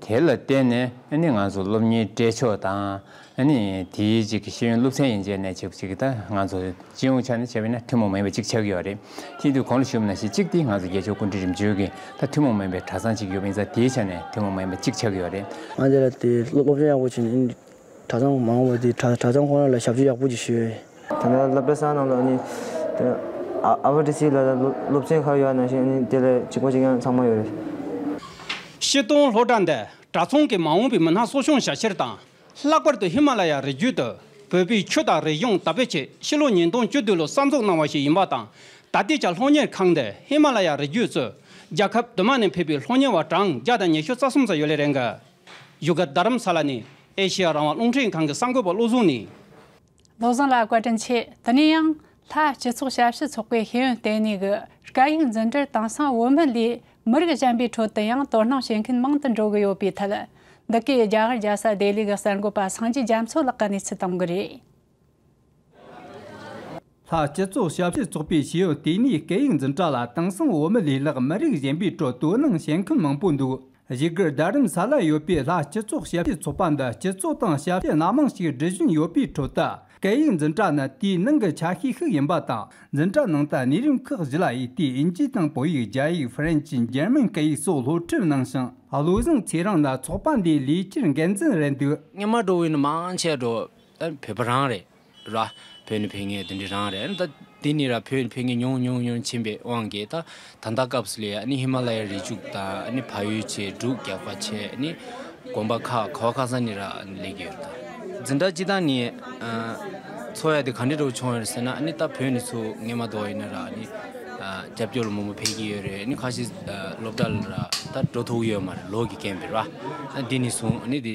དེ་ལ་བརྟེན་ནས་ང་ཚོ་སློབ་གཉེར་བཀྲས་མཆོག་དང་དེའི་རྗེས་ཀྱི་ཤེས་ཡོན་སློབ་ཚན་ཡན་ཆད་ནས་བྱེད་ཀྱི་ད་ང་ཚོ་སྤྱི་ཡོངས་ཆ་ནས་བྱས་པ་ན་ཐུན་མོང་མིན་པ་གཅིག་ཆགས་ཀྱི་ཡོད་རེད་དེ་དུས་གོང་ལ་ཞུ་བ་ན་གཞི་གཅིག་དེ་ང་ཚོ་རྒྱལ་མཆོག་ཀུན་གྲིབ་རིམ་བྱོན་གྱི་ད་ཐུན་མོང་མིན་པའི་གྲྭ་ཚང་གཅིག་ཡོད་པ་ཡིན་ཙང་དེའི་ཆ་ནས་ཐུན་མོང་མིན་པ་གཅིག་ཆགས་ཀྱི་ཡོད་རེད། ང་འདི་ལ་དེ་སློབ་ཚན་ཡག་པོ་བྱས་ནས་གྲྭ་ཚང་མང་བ་དེ་གྲྭ་ཚང་ཁོ་ན་ལ་ཞབས་ཞུ་ཡག་པོ་ཅིག་ཞུས། དེ་ནས་སློབ་གྲྭ་ཚང་རྣམས་ལ་ནི་ཨ་བྷ་ཏི་སི་ལ་ལ་སློབ་ཆེན་ཁག་ཡོད་ན་ཞིང་ནི་དེ་ལས་གཅིག་པ་གཅིག་ཡང་ཚང་མ་ཡོད་རེད། ཤེལ་སྡོང་སློབ་གྲྭ་འདི་གྲྭ་ཚང་གི་མ་འོངས་པའི་མི་སྣ་གསོ་སྐྱོང་བྱ་ཕྱིར་དང་ལྷག་པར་དུ་ཧི་མ་ལ་ཡ་རི་རྒྱུད་དུ་བོད་པའི་ཆོས་དང་རིག་གཞུང་དར་སྤེལ་ཆེད་ཕྱི་ལོ་ཉིས་སྟོང་བཅུ་བདུན་ལོ་གསར་འཛུགས་གནང་བ་ཞིག་ཡིན་པ་དང་ད་ལྟའི་ཆར་སློབ་གཉེར་ཁང་འདི་ཧི་མ་ལ་ཡ་རི་རྒྱུད་གཙོས་རྒྱལ་ཁབ་དུ་མ་ནས་ཕེབས་པའི་སློབ་གཉེར་བ་གྲངས་བརྒྱ་དང་ཉི་ཤུ་རྩ་གསུམ་ཙམ་ཡོད་ལེ་རེད་འགལ། བཞུགས་སྒར་རྡ་རམ་ས་ལ་ནས་ཨེ་ཤེ་ཡ་རང་དབང་རླུང་འཕྲིན་ཁང་གི་གསར་འགོད་པ་བློ་བཟང་ནི། བློ་བཟང་ལགས་བཀའ་དྲིན་ཆེ་དེ་ནས་ཡང། ལྷ་སྤྱི་ཚོགས་ཞབས་ཞུ་ཚོགས་པའི་ཤེས་ཡོན་ལྟེ་གནས་ཀྱི་སྐད་ཡིག་འཛིན་གྲྭར་དེང་སང་བོད་མི་ལས་མི་རིགས་གཞན་པའི་ཁྲོད་དུ་ཡང་དོ་སྣང་བྱེད་མཁན་མང་དུ་འགྲོ་གི་ཡོད་པའི་ཐད། འདི་གའི་རྒྱ་གར་རྒྱལ་ས་ལྡེ་ལི་གི་གསར་འགོད་པ་སངས་རྒྱས་རྒྱ་མཚོ་ལགས་ཀྱི་གནས་ཚུལ་གཏང་གི་རེད། ལྷག་སྤྱི་ཚོགས་ཞབས་ཞུ་ཚོགས་པའི་ཞེའུ་དེ་ནས་སྐད་ཡིག་འཛིན་གྲྭ་ལ་དེང་སང་འོ་མི་ལས་ལྷག་མི་རིགས་གཞན་པའི་ཁྲོད་དོ་སྣང་བྱེད་མཁན་མང་པོ་འདུག་གཞིས་སྒར་རྡ་རམ་ས་ལ་ཡོད་པའི་ལྷག་སྤྱི་ཚོགས་ཞབས་ཞུ་ཚོགས་པ་འདི་སྤྱི་ཚོགས་དང་ཞབས་ཞུ་སྣ་མང་ཞིག་སྒྲིལ་བཞིན་ཡོད་པའི་ཁྲོད་དུ་སྐད་ཡིག་འཛིན་གྲྭ་ནི་དེའི་ནང་གི་ཆ་ཤས་ཤིག་ཡིན་པ་དང་འཛིན་གྲྭ་ནང་དུ་གནས་རིམ་ཁག་བཞི་ལ་ཡི་གེ་དབྱིན་ཇི་དང་བོད་ཡིག་རྒྱ་ཡིག་ཧྥ་རན་ཇི་འཇར་མན་སྐད་ཡིག་སོགས་སློབ་ཁྲིད་གནང་ཞིང་བློ་བཟང་ཚེ་རིང་ལ་ཚོགས་པ་འདིའི་ལས་འཁྱུར་འགན་འཛིན་རེད་འདུག་སྙེ་མ་གྲོ་བོའི་ནི་མང་ཆེ་བསྒྲུབས། བོད་པ་རང་རེད། ར། བོད་ནི་བོད་ངན་དེ་འདྲི་རང་རེད། ད། དེ་ནི་ར་བོད་བོད་ངན་ཉུང་ཉུང་ཉུང་ཕྱིན་པའི་དབང་གིས་ད། ད་ལྟ་སྐབས་ལས་ནི་ཧི་མ་ལ་ཡའི་རི་བྱུག་ད་ནི་ཕ་ཡུལ་ཆེ་དྲུག་རྒྱག་པ་ཆེ་ནི། གོམ་པ་ཁ་ག་བ་ཁ་ས་ནི་ར་ལེགས་ཀྱི་རེད་ད། འཛིན་གྲྭ་སྤྱི་དང་ནི། འཚོ་ཡ་དེ་ག་འདྲི་རུ་བྱུང་ཡོད་ཟེར་ན་ནི་ད་བོད་ནི་ཚུ་ངན་མ་གཏོགས་ཡིན་ན་ར་ནི། རྒྱབ་སྐྱོར་ལ་མོ་མོ་ཕེབས་ཀྱི་ཡོད་རེད་ནི་ཁ་ཤི་སློབ་གྲྭ་ལ་ར་ད་འགྲོ་ཐུག་ཡོད་མ་རེད་ལོག་གི་རྐྱེན་པས་ར། ད་འདི་ནི་བཟུང་ནི་དེ།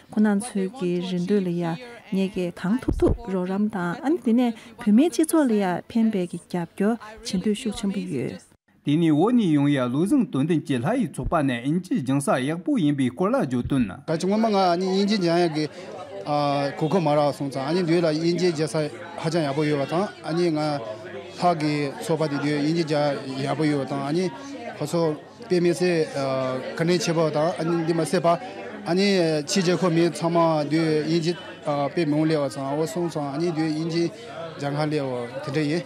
ཁོ་ནང་ཚོས་ཀྱི་རེ་འདོད་ལ་ཡང་ངེད་ཀྱིས་གང་ཐུབ་ཐུབ་རོགས་རམ་དང་ཨ་ནི་དེ་ནས་བོད་མིའི་སྤྱི་ཚོགས་ལ་ཡང་ཕན་པའི་གྱི་རྒྱབ་སྐྱོར་བྱེད་འདོད་ཤུགས་ཆེན་པོ་ཡོད། དེ་ནས་འོག་ནས་ཡང་ཡང་ལུགས་བཟང་དོན་ལྡན་གྱི་ལྷ་ཡི་ཚོགས་པ་ནས་དབྱིན་ཇིའི་སྦྱང་ས་ཡག་པོ་ཡིན་པའི་སྐོར་ལ་བརྗོད་དོན། ད་ཆ་སྔོན་མ་ང་ཨ་ནི་དབྱིན་ཇི་སྦྱང་ཡག་གི་གོ་སྐབས་མ་རག་སོང་ཙང་ཨ་ནི་དུས་ལ་དབྱིན་ཇི་སྦྱང་ས་ཧ་ཅང་ཡག་པོ་ཡོད་པ་དང་ཨ་ནི་ང་ལྷག་གི་ཚོགས་པ་དེ་དུས་དབྱིན་ཇི་སྦྱང་ཡག་པོ་ཡོད་པ་དང་ཨ་ནི་ཁོ་ཚོ་དཔེ་མི་སྲིད། ཁ་ནས་འཆི་བ་དང་འདི་མ་སྲིད་པ། ཕྱིས་རྗེས་ཁོ་མི་ཚང་མ་དུས་དབྱིན་ཇི་དཔེ་མང་ལེ་བ་ཚང་འོ་སྲུང་ཚང་དུས་དབྱིན་ཇི་སྦྱང་ཁ་ལེ་བ་དེ་འདྲ་ཡིན།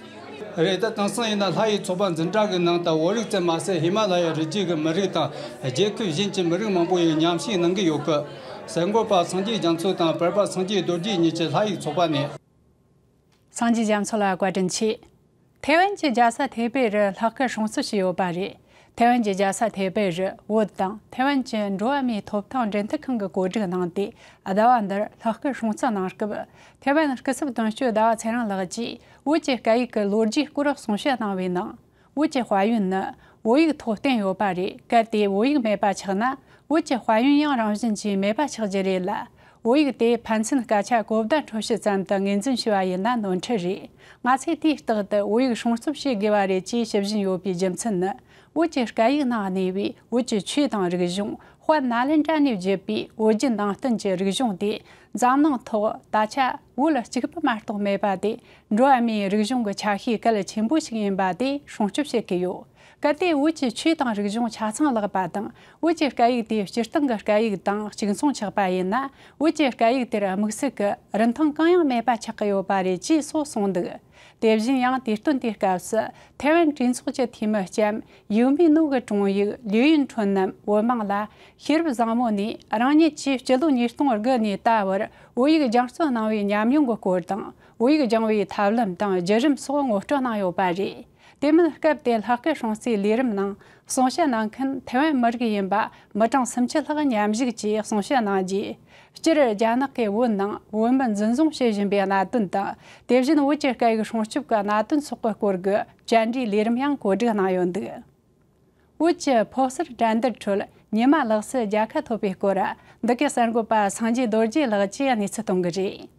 རེད་ད་དེང་སང་ཡིན་ན་ལྷ་ཡི་ཚོགས་པ་འཛིན་གྲྭ་གི་ནང་དང་བོ་རིགས་བཙན་མ་ཟད་ཧི་མ་ལ་ཡའི་རི་རྒྱུད་ཀྱི་མི་རིགས་དང་རྒྱའི་ཁུལ་གཞན་གྱི་མི་རིགས་མང་པོ་ཡིན་ཉམས་ཞིག་གནང་གི་ཡོད་སྐད། ཟས་འགོ་པ་སངས་རྒྱས་རྒྱ་མཚོ་དང་བོད་པ་སངས་རྒྱས་རྡོ་རྗེ་གཉིས་ཀྱི་ལྷ་ཡི་ཚོགས་པ་ནས། སངས་རྒྱས་རྒྱ་མཚོ་ལ་བཀའ་དྲིན་ཆེ། ཐའེ་ཝན་གྱི་རྒྱལ་ས་ཐའེ་པེ་རུ་ལྷག་སྐད་གྲོང་ཚོ་ཞིག་ཡོད་པ་རེད། ཐའེ་ཝན་གྱི་རྒྱལ་ས་ཐའེ་པེ་རུ་བོད་དང་ཐའེ་ཝན་གྱི་འགྲོ་བ་མིའི་ཐོབ་ཐང་འབྲེལ་མཐུད་ཁང་གི་བཀོད་སྒྲིག་གནང་སྟེ་ཟླ་བ་འདིར་ལྷག་སྐད་གྲོང་ཚོ་ནང་སྐབས་ཐའེ་ཝན་སྐུ་ཚབ་དོན་གཅོད་ཟླ་བ་ཚེ་རིང་ལགས་ཀྱིས་བོད་ཀྱི་སྐད་ཡིག་གི་ལོ་རྒྱུས་སྐོར་གསུང་བཤད་གནང་བའི་ནང། བོད་ཀྱི་དཔལ་ཡོན་ནི་བོད་ཡིག་ཐོག་བསྟན་ཡོད་པ་རེད་གལ་ཏེ་བོད་ཡིག་མེད་པ་ཆགས་ན་བོད་ཀྱི་དཔལ་ཡོན་ཡང་རང་བཞིན་གྱིས་མེད་པ་ཆགས་ཀྱི་རེད་ལ། བོད་ཡིག་དེ་ཕན་ཚུན་སྐད་ཆ་གོ་བརྡ་འཕྲོད་བྱེད་ཙམ་དུ་ངོས་འཛིན་བྱས་པ་ཡིན་ན་ནོར་འཁྲུལ་རེད། ང་ཚོས་དུས་རྟག་ཏུ་བོད་ཡིག་སྲུང་སྐྱོབ་བྱེད་དགོས་པ་རེད་ཅེས་ཞུ་བཞིན་ཡོད་པའི་རྒྱུ་མཚན་ནི་བོད་ཀྱི་སྐད་ཡིག་ནང་གནས་པའི་བོད་ཀྱི་ཆོས་དང་རིག་གཞུང་དཔལ་ནཱ་ལེནྡྲ་ནས་བརྒྱུད་པའི་བོད་བརྒྱུད་ནང་བསྟན་གྱི་རིག་གཞུང་དེ་འཛམ་གླིང་ཐོག་ད་ཆ་བོད་ལ་གཅིག་པུ་མ་གཏོགས་མེད་པ་དེ་འགྲོ་བ་མིའི་རིག་གཞུང་གི་ཆ་ཤས་གལ་ཆེན་པོ་ཞིག་ཡིན་པ་དེ་སྲུང་སྐྱོབ་བྱེད་ཀྱི་ཡོད། གལ་ཏེ་བོད་ཀྱི་ཆོས་དང་རིག་གཞུང་ཆ་ཚང་བརླག་པ་དང་བོད་ཀྱི་སྐད་ཡིག་དེ་སྤྱིར་བཏང་གི་སྐད་ཡིག་དང་གཅིག་མཚུངས་ཆགས་པ་ཡིན་ན་བོད་ཀྱི་སྐད་ཡིག་དེར་དམིགས་བསལ་གྱི་རིན་ཐང་གང་ཡང་མེད་པ་ཆགས་ཀྱི་ཡོད་པ་རེད་ཅེས་སོགས་གསུངས་འདུག་དེ་བཞིན་ཡང་དུས་སྟོན་དེའི་སྐབས་སུ་ཐའེ་ཝན་གྲོས་ཚོགས་ཀྱི་འཐུས་མི་ལྕམ་ཡིའུ་མི་ནོ་གི་དྲུང་ཡིག་ལུའུ་ཡིན་ཁྲོན་རྣམས་བོད་དམག་ལ་ཤེས་རབ་བཟང་མོ་ནས་རང་ཉིད་ཀྱིས་སྤྱི་ལོ་ཉིས་སྟོང་དགུ་ནས་ད་བར་བོད་ཡིག་སྦྱང་བརྩོན་གནང་བའི་ཉམས་མྱོང་གི་སྐོར་དང་དབྱིག་སྦྱང་བའི་ཐབས་ལམ་དང་བརྒྱུད་རིམ་སོགས་ངོ་སྤྲོད་གནང་ཡོད་པ་རེད། དེ་མིན་སྐབས་དེའི་ལྷག་དཀའི་ཧྲང་སིའི་ལས་རིམ་ནང་གསུང་བཤད་གནང་མཁན་ཐེ་ཝན་མི་རིགས་ཡིན་པ་མི་གྲངས་སུམ་ཅུ་ལྷག་མཉམ་གཞུག་གྱིས་གསུང་བཤད་གནང་རྗེས། སྤྱིར་རྒྱ་ནག་གིས་བོད་ནང་བོད་མི་འཛིན་བཟུང་བྱེད་བཞིན་པའི་གནད་དོན་དང་དེ་བཞིན་བོད་ཀྱི་སྐད་ཡིག་སྲུང་སྐྱོབ་ཀྱི་གནད་དོན་སོགས་ཀྱི་སྐོར་གྱི་བཅར་འདྲིའི་ལས་རིམ་ཡང་གོ་སྒྲིག་གནང་ཡོད་འདུག་བོད་ཀྱི་ཕོ་གསར་དགྲ་འདུལ་ཁྲོད་ཉི་མ་ལགས་སུ་རྒྱལ་ཁ་ཐོབ་པའི་སྐོར་འདི་གའི་གསར་འགོད་པ་སངས་རྒྱས་རྡོ་རྗེ་ལགས་ཀྱིས་གནས་ཚུལ་གཏོང་གི་རེད།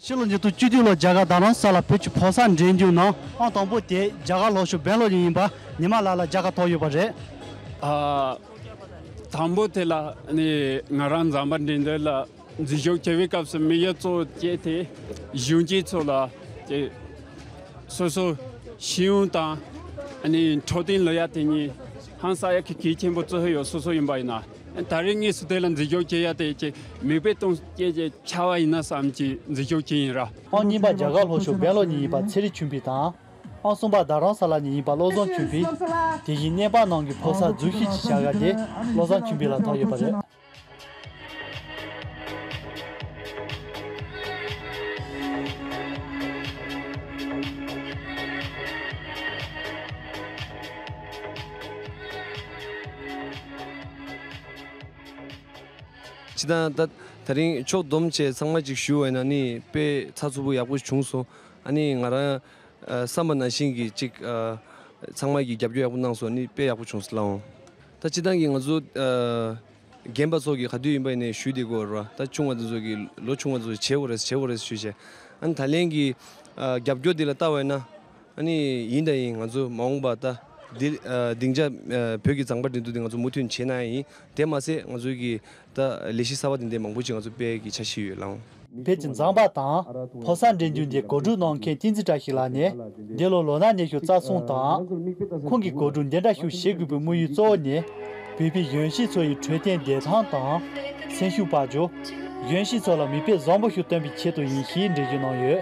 ཕྱི་ལོ་ཉིས་སྟོང་བཅུ་བདུན་ལོར་རྒྱ་གར་དང་རང་ས་ལ་བོད་ཀྱི་ཕོ་གསར་འགྲན་རྒྱུགས་ནང་ཨང་དང་པོ་དེ་རྒྱ་གར་ལོག་ཞོགས་བན་ལོ་ལིང་ཡིན་པ་ཉི་མ་ལགས་ལ་རྒྱ་གར་དོགས་ཡོད་པ་རེད། དང་པོ་དེ་ལ་ནི་ང་རང་འཛམ་པ་འདྲི་འདོད་ལ་འཛིན་ཤོག་འཁྱེར་བའི་སྐབས་སུ་མི་ཡོད་གཙོ་བྱས་ཏེ་གཞོན་སྐྱེས་ཚོ་ལ་སོ་སོ་ཤེས་ཡོན་དང་འཕྲོད་བསྟེན་ལོ་ཡ་དེ་གཉིས་ཧང་ས་ཡ་གི་གལ་ཆེན་པོ་གཙོ་ཡོད་སོ་སོ་ཡིན་པ་ཡིན་ན་ད་རེས་ངས་སུ་དེ་ལ་འཛིན་ཤོག་འཁྱེར་ཡ་དེ་ཅེས་མིག་དཔེ་སྟོན་སྐྱེས་ཀྱི་ཆ་བ་ཡིན་ན་བསམ་གྱིས་འཛིན་ཤོག་འཁྱེར་ཡིན་ར། ཨང་གཉིས་པ་རྒྱ་གར་ལྷོ་ཕྱོགས་སྦེང་ལོར་ཉིན་ཡིན་པ་ཚེ་རིང་ཆུན་འཕེལ་དང། ཨང་གསུམ་པ་རྡ་རམ་ས་ལ་ཉིན་ཡིན་པ་བློ་བཟང་ཆུན་འཕེལ། དེ་བཞིན་གནས་འཕང་ནང་གི་ཕོ་གསར་རྫུན་ཤེས་ཀྱི་བྱ་དགའ་དེ་བློ་བཟང་ཆུན་འཕེལ་ལ་ཐོགས་ཡོད་པ་རེད། ཅི་དང་ད། ད་རིང་ཕྱོགས་བསྡོམས་བཅས་ཚང་མ་གཅིག་ཞུ་བས་ན་ནི་དཔེ་ཚགས་ཚུགས་པོ་ཡག་པོ་བྱུང་སོང་ཨ་ནི་ང་རང་བསམ་པ་ན་བཞིན་གྱི་གཅིག་ཚང་མ་གྱི་རྒྱབ་སྐྱོར་ཡག་པོ་གནང་སོང་ནི་དཔེ་ཡག་པོ་བྱུང་སླ་འོང། ད་སྤྱི་བཏང་གི་ང་ཚོ་རྒན་པ་ཚོགས་ཀྱིས་ག་དུས་ཡིན་པ་ཡིན་ནའི་ཞུས་དེ་གོ་རེད་པ་ད་ཆུང་བ་དེ་ཚོ་གིས་ལོ་ཆུང་བ་དེ་ཚོ་བྱེད་གོ་རེད་བྱེད་གོ་རེད་ཞུས་བྱས་ཨཱ་ད་ལན་གྱི་རྒྱབ་སྐྱོར་དེ་ལ་ལྟ་བས་ན་ཨཱ་ནི་ཡིན་དང་ཡིན་ང་ཚོ་མ་འོངས་པ་ད་དེ་སྡིངས་ཆ་བོད་ཀྱི་མཛངས་པ་འདི་འདུག་དེ་ང་ཚོ་མུ་མཐུད་བྱེད་ན་ཡིན་དེ་མ་ཟད་ང་ཚོའི་གི་ད་ལས་གཞི་གསར་པ་དེ་འདས་མང་པོ་ཅིག་ང་ཚོ་དཔལ་གྱི་ཆ་ཤས་ཡོད་ལང། དཔལ་གྱི་མཛངས་པ་དང་ཕོ་སར་འགྲན་རྒྱུན་འདི་གོ་སྒྲུབ་གནང་མཁན་ཏིང་ཙི་ཀྲ་ཞིག་ལ་ནས་འདི་ལོ་ལོ་ན་གནས་ཤུགས་རྩ་སྲུང་དང། ཁོང་གིས་གོ་སྒྲུབ་འདི་འདྲ་ཤུགས་བཞེས་དགོས་པའི་དམུ་ཡུལ་གཙོ་བོ་ནི། བོད་པའི་གཞོན་སྐྱེས་ཚོ་ཡི་འཕྲོད་བསྟེན་བདེ་ཐང་དང། སེམས་ཤུགས་པར་འགྱུར། གཞོན་སྐྱེས་ཚོ་ལ་མིག་དཔེ་བཟང་པོ་ཞིག་སྟོན་པའི་ཆེད་དུ་ཡིན་ཞེས་འགྲེལ་བརྗོད་གནང་ཡོད།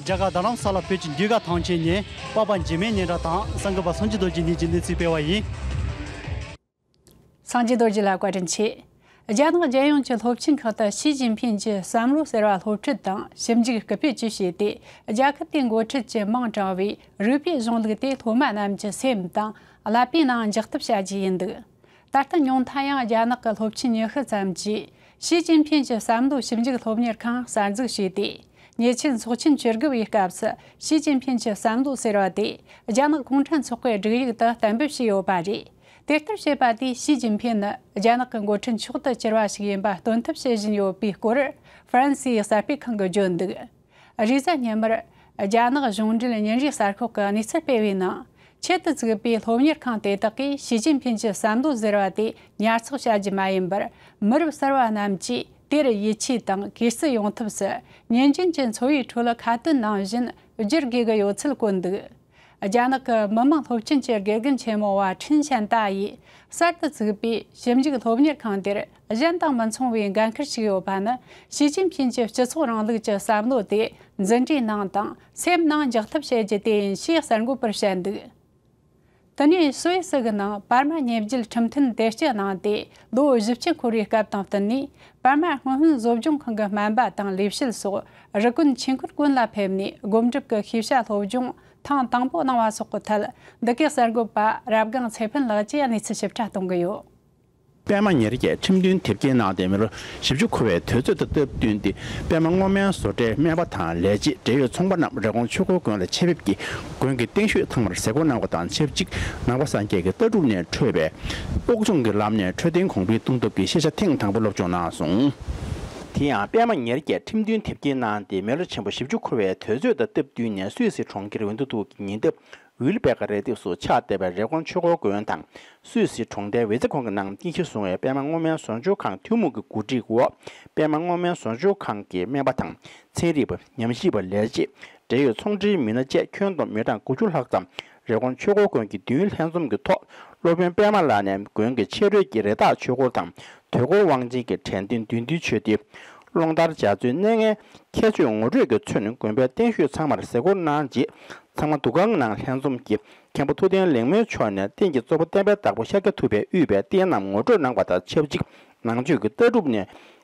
རྒྱ་གར་རྡ་རམ་ས་ལ་བོད་ཀྱི་འདུས་སྒར་ཐང་ཆེན་ནས་པཱ་པ་འཇིགས་མེད་སྙན་གྲགས་དང་གསང་གི་པ་སངས་རྒྱས་རྡོ་རྗེ་གཉིས་ཀྱི་གནས་ཚུལ་སྤེལ་བ་ཡིན། སངས་རྒྱས་རྡོ་རྗེ་ལ་བཀའ་དྲིན་ཆེ། རྒྱ་ནག་རྒྱལ་ཡོངས་ཀྱི་སློབ་ཆེན་ཁག་ཏུ་ཞི་ཅིན་ཕིན་གྱི་བསམ་བློ་ཟེར་བ་སློབ་ཁྲིད་དང་ཞིབ་འཇུག་སྐུལ་སྤེལ་བཅས་བྱས་ཏེ་རྒྱལ་ཁབ་དེའི་འགོ་ཁྲིད་ཀྱི་མིང་བགྲང་བའི་རིགས་པའི་གཞུང་ལུགས་དེ་སློབ་མ་རྣམས་ཀྱི་སེམས་དང་བསླབ་པའི་ནང་འཇགས་ཐབས་བྱ་རྒྱུ་ཡིན་འདུག། ད་ལྟ་ཉུང་མཐའ་ཡང་རྒྱ་ནག་གི་སློབ་ཆེན་ཉི་ཤུ་ཙམ་གྱིས་ཞི་ཅིན་ཕིན་གྱི་བསམ་བློའི་ཞིབ་འཇུག་སློབ་གཉེར་ཁང་གསར་འཛུགས་བྱས་ཏེ། ཉེ་ཆར་ཚོགས་ཆེན་བཅུ་དགུ་པའི་སྐབས་སུ་ཞི་ཅིན་ཕིན་གྱི་བསམ་བློ་ཟེར་བ་དེ་རྒྱ་ནག་གུང་ཁྲན་ཚོགས་པའི་སྒྲིག་ཡིག་ཏུ་གཏན་འབེབས་བྱས་ཡོད་པ་རེད། དེ་ལྟར་བྱས་པ་དེས་ཞི་ཅིན་ཕིན་ནི་རྒྱ་ནག་གི་འགོ་ཁྲིད་མཆོག་ཏུ་གྱུར་པ་ཞིག་ཡིན་པ་སྟོན་ཐབས་བྱེད་བཞིན་ཡོད་པའི་སྐོར་ཧྥ་རན་སིའི་གསར་སྤེལ་ཁང་གིས་བརྗོད་འདུག། རེས་གཟའ་ཉི་མར། རྒྱ་ནག་གཞུང་འབྲེལ་ཉིན་རེའི་གསར་ཤོག་གི་གནས་ཚུལ་སྤེལ་བའི་ནང། ཆེད་དུ་བཙུགས་པའི་སློབ་གཉེར་ཁང་དེ་དག་གིས་ཞི་ཅིན་ཕིན་གྱི་བསམ་བློ་ཟེར་བ་དེ་ཉར་ཚགས་བྱ་རྒྱུ་མ་ཡིན་པར། མི་རབས་གསར་བ་རྣམས་ཀྱིས་དེར་ཡིད་ཆེས་དང་གུས་བརྩི་ཡོང་ཐབས་སུ་ཉིན་རྒྱུན་གྱི་འཚོ་བའི་ཁྲོད་ལ་ཁ་བཏོན་ནང་བཞིན་བསྒྱུར་དགོས་ཀྱི་ཡོད་ཚུལ་བཀོད་འདུག། རྒྱ་ནག་གི་མི་དམངས་སློབ་ཆེན་གྱི་དགེ་རྒན་ཆེན་མོ་བ་ཁྲིན་ཞན་ཏཱ་ཡིས་གསར་དུ་བཙུགས་པའི་ཞིབ་འཇུག་སློབ་གཉེར་ཁང་དེར་གཞན་དང་མི་མཚུངས་པའི་འགན་ཁུར་ཞིག་ཡོད་པ་ནི་ཞི་ཅིན་ཕིན་གྱི་སྤྱི་ཚོགས་རིང་ལུགས་ཀྱི་བསམ་བློ་དེ་འཛིན་གྲྭའི་ནང་དང་སེམས་ནང་འཇགས་ཐབས་བྱེད་རྒྱུ་དེ་ཡིན་ཞེས་གསར་འགོད་པར་བཤད་འདུག་དེ་ནས་སུད་སི་གི་ནང་པར་མ་ཉེ་བརྒྱུད་ཁྲིམས་མཐུན་དེ་སྤྱི་གནང་སྟེ་ལོ་བཞི་བཅུ་འཁོར་བའི་སྐབས་དང་བསྟུན་ནས་པར་མ་སྔོན་དབུས་བཟོ་སྦྱོང་ཁང་གི་སྨན་པ་དང་ལས་བྱེད་སོགས་རི་དཀོན་ཆེན་ཁུལ་དཀོན་ལ་ཕེབས་ནས་སྒོམ་སྒྲུབ་ཀྱི་ཤེས་བྱ་སློབ་སྦྱོང་ཐེངས་དང་པོ་གནང་བ་སོགས་ཀྱི་ཐད་འདི་གའི་གསར་འགོད་པ་རབ་སྒང་ཚེ་ཕུན་ལགས་ཀྱིས་གནས་ཚུལ་ཞིབ་ཕྲ་གཏོང་གི་ཡོད། པད་མ་ཉེར་བརྒྱད་ཁྲིམས་མཐུན་དེབ་སྐྱེལ་གནང་སྟེ་མི་ལོ་བཞི་བཅུ་འཁོར་བའི་དུས་ཚོད་དང་སྟབས་བསྟུན་ཏེ་པད་མ་སྔོ་སྨན་བཟོ་གྲྭའི་སྨན་པ་དང་ལས་བྱེད་འབྲེལ་ཡོད་ཚོང་པ་རྣམས་རེབ་གོང་ཆུ་འགོའི་དགོན་ལ་ཆེད་ཕེབས་ཀྱིས་དགོན་གྱི་སྟེང་ཤོད་ཐང་མར་ཟས་སྐོར་གནང་བ་དང་ཆབས་ཅིག་ནང་པ་སངས་རྒྱས་ཀྱི་ལྟ་གྲུབ་ནས་འཕྲོས་པའི་ཨོག་ཚོང་གི་ལམ་ནས་འཕྲོད་བསྟེན་གོང་འཕེལ་གཏོང་ཐབས་ཀྱི་ཤེས་བྱ་ཐེངས་དང་པོ་སློབ་སྦྱོང་གནང་སོང། དེ་ཡང་པད་མ་ཉེར་བརྒྱད་ཁྲིམས་མཐུན་དེབ་སྐྱེལ་གནང་སྟེ་མི་ལོ་ཆེན་པོ་བཞི་བཅུ་འཁོར་བའི་དུས་ཚོད་དང་སྟབས་བསྟུན་ནས་སུད་སི་གྲོང་ཁྱེར་ཝིན་ཏུ་ཐུག་གི་ཉེ་འདབས་ཝིལ་བེ་ཀ་རས་ལྡེབས་སུ་ཕྱག་བཏེགས་པའི་རེབ་གོང་ཆོས་འཁོར་དགོན་དང་སུད་སི་གྲོང་རྡལ་ཝེ་ཙེ་ཁོང་གི་ནང་རྟེན་གཞི་བཟུང་བའི་པད་མ་སྔོ་སྨན་ཟོག་འཇོག་ཁང་ཐུན་མོང་གི་གོ་སྒྲིག་འོག་པད་མ་སྔོ་སྨན་ཟོག་འཇོག་ཁང་གི་སྨན་པ་དང་ཚན་རིག་པ་ཉམས་ཞིབ་པ་ལས་བྱེད་འབྲེལ་ཡོད་ཚོང་འབྲེལ་མི་སྣ་བཅས་ཁྱོན་བསྡོམས་མི་གྲངས་དགུ་བཅུ་ལྷག་ཙམ་རེབ་གོང་ཆོས་འཁོར་དགོན་གྱི་མདུན་ལྷན་འཛོམས་ཀྱི་ཐོག་སློབ་དཔོན་པད་མ་ལགས་ནས་དགོན་གྱི་ཕྱི་རོལ་གྱི་རི་དྭགས་ཆོས་འཁོར་དང་དུས་འཁོར་དབང་ཆེན་གྱི་དྲན་རྟེན་བདུད་འདུལ་ཆོས་སྡེ། ཀློང་ལྟར་འཇའ་ཚོན་གནས་ལྔའི་ཁྱད་ཆོས་ངོ་སྤྲོད་ཀྱིས་མཚོན་དགོན་པའི་རྟེན་བཞུགས་ཚང་མར་གཟིགས་སྐོར་གནང་རྗེས་ཚང་མ་འདུ་ཁང་ནང་ལྷན་འཛོམས་ཀྱིས་མཁན་པོ་ཐུབ་བསྟན་ལེགས་སྨོན་མཆོག་ནས་རྟེན་གྱི་གཙོ་བོ་བསྟན་པའི་བདག་པོ་ཤཱཀྱ་ཐུབ་པའི་དབུས་པའི་རྟེན་རྣམས་ངོ་སྤྲོད་གནང་བ་དང་ཆབས་ཅིག་ནང་ཆོས་ཀྱི་ལྟ་གྲུབ་ནས་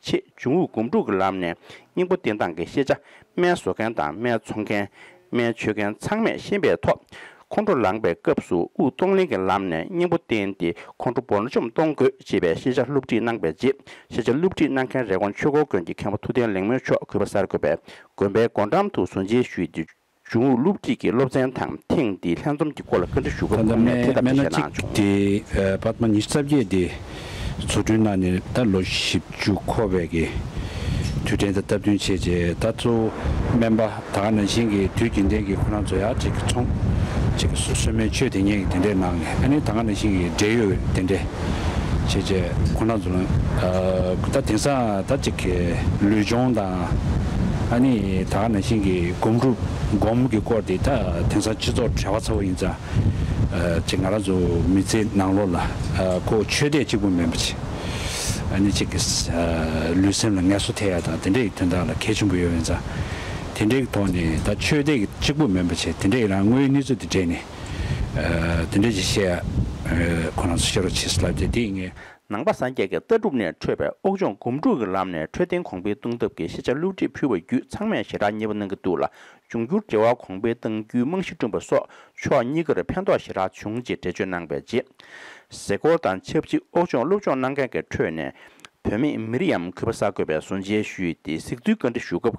ཆེད་འབྱུང་དབུགས་སྒོམ་སྒྲུབ་ཀྱི་ལམ་ནས་སྙིང་པོ་བསྟན་སྟངས་ཀྱི་ཤེས་བྱ་སྨན་བཟོ་མཁན་དང་སྨན་འཚོང་མཁན། སྨན་མཆོད་མཁན་ཚང་མས་ཤེས་པའི་ཐོག་ཁོང་ཁྲོ་ལངས་པའི་སྐབས་སུ་དབུགས་གཏོང་ལེན་གྱི་ལམ་ནས་སྙིང་པོ་བསྟན་ཏེ་ཁོང་ཁྲོ་འབོར་འཇོམས་གཏོང་དགོས་ཅེས་པའི་ཤེས་བྱ་བསླུ་བྲིད་གནང་པའི་རྗེས་ཤེས་བྱ་བསླུ་བྲིད་གནང་མཁན་རེབ་གོང་ཆོས་འཁོར་དགོན་གྱི་མཁན་པོ་ཐུབ་བསྟན་ལེགས་སྨོན་མཆོག་གུས་པ་སར་འཁོད་པའི་དགོན་པའི་སྒོ་འགྲམ་དུ་ཟུར་མཇལ་ཞུས་ཏེ། གཞུང་ཨུ་ལུགས་གཅིག་གི་སློབ་ཚན་དང་ཐེངས་འདིའི་ལྷན་འཛོམས་ཀྱི་སྐོར་ལ་བཀའ་འདྲི་ཞུ་སྐབས་ཁོང་ནས་དེ་ལྟ་བུའི་བཤད་གནང་བྱུང། དེ་པདྨ་ཉི་ཤུ་རྩ་བརྒྱད་དེ་བཟོ་སྐྲུན་གནང་ནས་ད་ལོ་བཞི་བཅུ་འཁོར་བའི་གི་དུས་དྲན་དང་སྟབས་བསྟུན་བྱས་རྗེས་ད་གཙོ་བོ་སྨན་པ་ད་ག་ནང་བཞིན་གྱི་དུས་རྒྱུན་ལྡན་གྱི་ཁོ་རང་ཚོ་ཡར་གཅིག་གི་ཚོང་གཅིག་གི་སོ་སོའི་སྨན་བཅོས་དེ་སྙེད་ཀྱི་དེ་འདྲས་གནང་ནས་ད་ནི་ད་ག་ནང་བཞིན་གྱི་འབྲེལ་ཡོད་དེ་འདྲས། བྱས་རྗེས་ཁོ་ན་ཚོ། ད་དེང་སང་ད་གཅིག་གི་ལུས་སྦྱོང་དང། ཨ་ནི་ད་ནང་བཞིན་གྱི་སྒོམ་སྒྲུབ་སྒོམ་གྱི་སྐོར་དེ་ད་དེང་སང་སྤྱི་ཚོགས་བྲལ་བ་ཚ་བོ་ཡིན་ཙང། གཅིག་ང་རང་ཚོ་མི་ཚེ་ནང་ལོགས་ལ་ཁོ་ཆོས་དད་གཅིག་པུ་མིན་པ་ཆེ། ཨ་ནི་གཅིག་གི་ལུས་སེམས་ལ་ངལ་གསོ་ཐེབས་ཡ་དང་དེ་འདྲ་ཡི་དོན་དག་ལ་གལ་ཆེན་པོ་ཡོད་ཡིན་ཙང། དེ་འདྲའི་ཐོག་ནས་ད་ཆོས་དད་གཅིག་པུ་མིན་པ་ཆེ་དེ་འདྲའི་རང་ངོའི་གནས་ཚུལ་དེ་དྲན་ནས། དེ་འདྲའི་ཅི་བཤད་ཁོ་རང་ཚོ་བཤད་རོགས་བྱས་ལབ་ཏེ་དེ་ཡིན་ངེས། ནང་པ་སངས་རྒྱས་ཀྱི་ལྟ་གྲུབ་ནས་འཕྲོས་པའི་དབུགས་འབྱུང་སྒོམ་སྒྲུབ་ཀྱི་ལམ་ནས་འཕྲོས་རྟེན་གོང་འཕེལ་གཏོང་ཐབས་ཀྱི་ཤེས་བྱ་བསླུ་བྲིད་ཕུལ་བ་བརྒྱུད་ཚང་མས་ཞེ་དྲག་མཉེས་པོ་གནང་གི་འདུག་ལ་འབྱུང་འགྱུར་འབྲེལ་བ་གོང་འཕེལ་གཏང་རྒྱུའི་རྨང་གཞི་བསྐྲུན་པ་སོགས་ཕྱོགས་གཉིས་ཀར་ཕན་ཐོགས་ཞེ་དྲག་བྱུང་ཅེས་འགྲེལ་བརྗོད་གནང་པའི་རྗེས། གཟིགས་སྐོར་དང་ཆབས་ཅིག་དབུགས་འབྱུང་སློབ་སྦྱོང་གནང་མཁན་གྱི་ཁྲོད་ནས་བུད་མེད་མི་རིའམ་གུས་པ་ས་དགོས་པའི་བཟོ་འཇལ་ཞུས་ཏེ་གཟིགས་ཚུལ་བཀའ་འདྲི་ཞུ་སྐབས་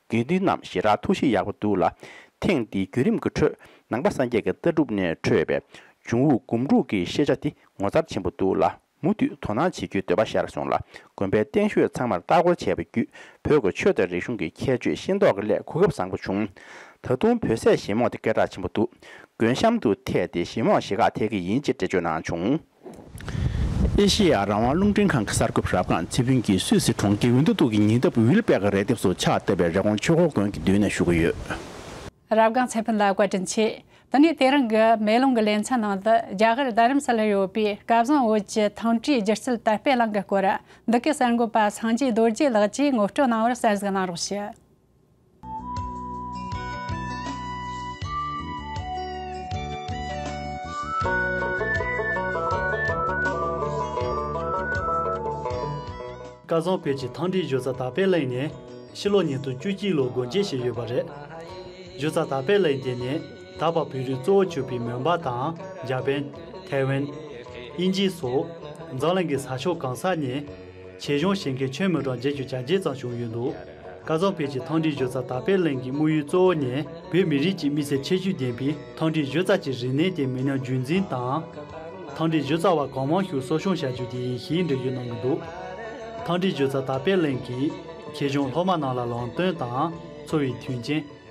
དགེ་འདུན་རྣམས་ཞེ་དྲག་ཐུགས་གཤིས་ཡག་པོ་འདུག་ལ། ཐེངས་འདིའི་བརྒྱུད་རིམ་གྱི་ཁྲོད་ནང་པ་སངས་རྒྱས་ཀྱི་ལྟ་གྲུབ་ནས་འཕྲོས་པའི་འབྱུང་བོ་སྒོམ་དྲུག་གི་ཤེས་བྱ་འདི་ངོ་མཚར་ཆེན་པོ་འདུག་ལ་མུ་མཐུད་དོ་སྣང་བྱེད་རྒྱུའི་འདོད་པ་ཤར་སོང་ལ་དགོན་པའི་སྟེང་ཤོད་ཚང་མར་ལྟ་སྐོར་བྱས་པ་བརྒྱུད་བོད་ཀྱི་ཆོས་དང་རིག་གཞུང་གི་ཁྱད་ཆོས་ཤེས་མདོག་གི་སླད་གོ་སྐབས་བཟང་པོ་བྱུང། ད་དུང་བོད་ཟས་ཞེ་མོག་དེ་སྐད་གྲགས་ཆེན་པོ་འདུག་དགོན་གཤམ་དུ་ཐད་དེ་ཞེ་མོག་ཞེ་ཁག་ཐེག་གི་ཡིན་ཅེས་འགྲེལ་བརྗོད་གནང་བྱུང། ཨེ་ཤེ་ཡ་རང་དབང་རླུང་འཕྲིན་ཁང་གི་གསར་འགོད་པ་རབ་དགའ་ཚེ་ཕུན་གྱིས་སུད་སི་གྲོང་ཁྱེར་ཝིན་ཏུ་ཏུག་གི་ཉེ་འདབས་ཝིལ་པེག་གི་རས་ལྡེབས་སུ་ཕྱག་བཏབ་པའི་རེ་ཀོང་ཆོས་འཁོར་དགོན་གྱི་མདུན་ན་བཞུགས་ཀྱི་ཡོད། རབ་དགའ་ཚེ་ཕུན་ལ་བཀའ་དྲིན་ཆེ། དེ་ནས་དེ་རིང་གི་མེ་ལོང་གི་ལེ་ཚན་ནང་དུ་རྒྱ་གར་རྡ་རམ་ས་ལར་ཡོད་པའི་བསྐལ་བཟང་བོད་ཀྱི་ཐང་སྤྲུལ་སྒྱུ་རྩལ་དར་སྤེལ་གླིང་གི་སྐོར་འདི་གའི་གསར་འགོད་པ་སངས་རྒྱས་རྡོ་རྗེ་ལགས་ཀྱིས་ངོ་སྤྲོད་གནང་བར་གསལ་གཟིགས་གནང་རོགས་ཞུ། སྐལ་བཟང་བོད་ཀྱི་ཐང་འབྲི་གཞོན་རྩ་དར་སྤེལ་གླིང་ནས་ཕྱི་ལོ་ཉིས་སྟོང་བཅུ་གཅིག་ལོར་སྒོ་འབྱེད་བྱས་ཡོད་པ་རེད། གཞོན་རྩ་དར་སྤེལ་གླིང་དེ་ནི་ད་བར་བོད་རིགས་གཙོ་བོ་བྱུས་པའི་མོན་པ་དང་འཇར་པན། ཐའེ་ཝན། དབྱིན་ཇི་སོགས་འཛམ་གླིང་གི་ས་ཕྱོགས་གང་སར་ནས། བྱེས་གཞོན་ཞིང་ཁའི་ཆོས་མི་གྲངས་བརྒྱད་ཅུ་གྱ་བརྒྱད་ཙམ་བྱུང་ཡོད་འདུག། སྐལ་བཟང་དཔལ་གྱིས་ཐང་འབྲི་གཞོལ་རྩ་དར་སྤེལ་གླིང་གི་དམུ་ཡུལ་གཙོ་བོ་ནས་བོད་མི་རིགས་ཀྱི་དམིགས་བསལ་ཁྱད་ཆོས་ལྡན་པའི་ཐང་འབྲི་གཞོལ་རྩ་གྱི་རིག་གནས་དེ་མི་སྣ་རྒྱུན་འཛིན་དང། ཐང་འབྲི་གཞོལ་རྩ་བ་གང་མང་ཞིག་གསོ་སྐྱོང་བྱ་རྒྱུ་དེ་ཡིན་ཞེས་འགྲེལ་བརྗོད་གནང་གི་འདུག་ཐང་འབྲི་གཞོལ་རྩ་དར་སྤེལ་གླིང་གིས་ཁྱེད་གཞུང་སློབ་མ་རྣམས་ལ་ལམ་སྟོན་དང་འཚོ་བའི་མཐུན་རྐྱེན།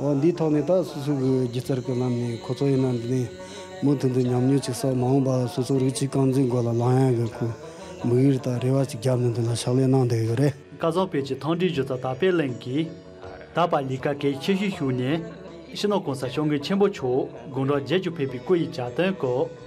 འོ་འདིའི་ཐོག་ནས་ད་སོ་སོའི་གི་སྒྱུ་རྩལ་གི་ལམ་ནས་ཁོ་ཚོ་ཡིན་ན་འདི་ནས་མུ་མཐུད་དུ་ཉམས་མྱོང་ཅིག་སོགས་མ་འོངས་པར་སོ་སོ་རིགས་གཅིག་རྐང་འཛིན་དགོས་ལ་ལམ་ཡང་གི་ཁུ་མིག་ཡུར་དང་རེ་བ་ཅིག་བརྒྱབ་ནས་འདི་ལ་ཕྱག་ལས་གནང་བསྡད་ཡོད་རེད། བཀའ་བཟང་བོད་ཀྱི་ཐང་འབྲིང་སྒྱུ་རྩལ་དར་སྤེལ་གླིང་གིས། ད་བར་ལི་ཀ་གེ་ཁྱེད་གཞིས་བཞུགས་ནས། ཕྱི་ནང་གང་སར་ཤོག་ངེས་ཆེན་པོ་ཕྱོགས་དགོངས་གྲགས་རྒྱས་གྱུར་ཕེབས་པའི་སྐུ་ཡི་བྱ་དོན་སྐོར།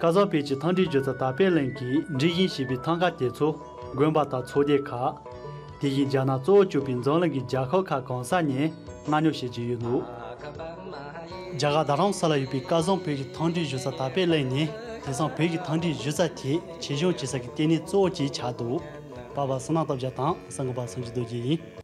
ཀ་ཟག་བོད་ཀྱི་ཐང་འབྲི་རྒྱུ་ཚ་ད་པེ་ལེན་གྱིས་འབྲི་བཞིན་བྱིས་པའི་ཐང་ཀ་དེ་ཚོ་དགོན་པ་དང་ཚོགས་སྡེ་ཁག། དེ་བཞིན་རྒྱ་ནག་གཙོ་བོ་བཅུག་པའི་འཛམ་གླིང་གི་རྒྱ་ཁག་ཁག་གང་ས་ནས་མངགས་ཉོ་བྱེད་ཀྱི་ཡོད་འདུག། རྒྱ་གར་རྡ་རམ་ས་ལ་ཡོད་པའི་ཀ་ཟང་བོད་ཀྱི་ཐང་འབྲི་རྒྱུ་ཚ་ད་པེ་ལེན་ནི་དེང་སང་བོད་ཀྱི་ཐང་འབྲི་རྒྱུ་ཚ་དེ་ཆེ་ཆུང་བྱེད་ས་ཀྱི་ལྟེ་གནས་གཙོ་བོ་བཅས་ཆགས་འདུག་པ་བ་སི་ནག་སྟོབས་རྒྱ་དང་ས་འགུ་པ་སངས་རྒྱས་རྡོ་རྗེ་ཡིན།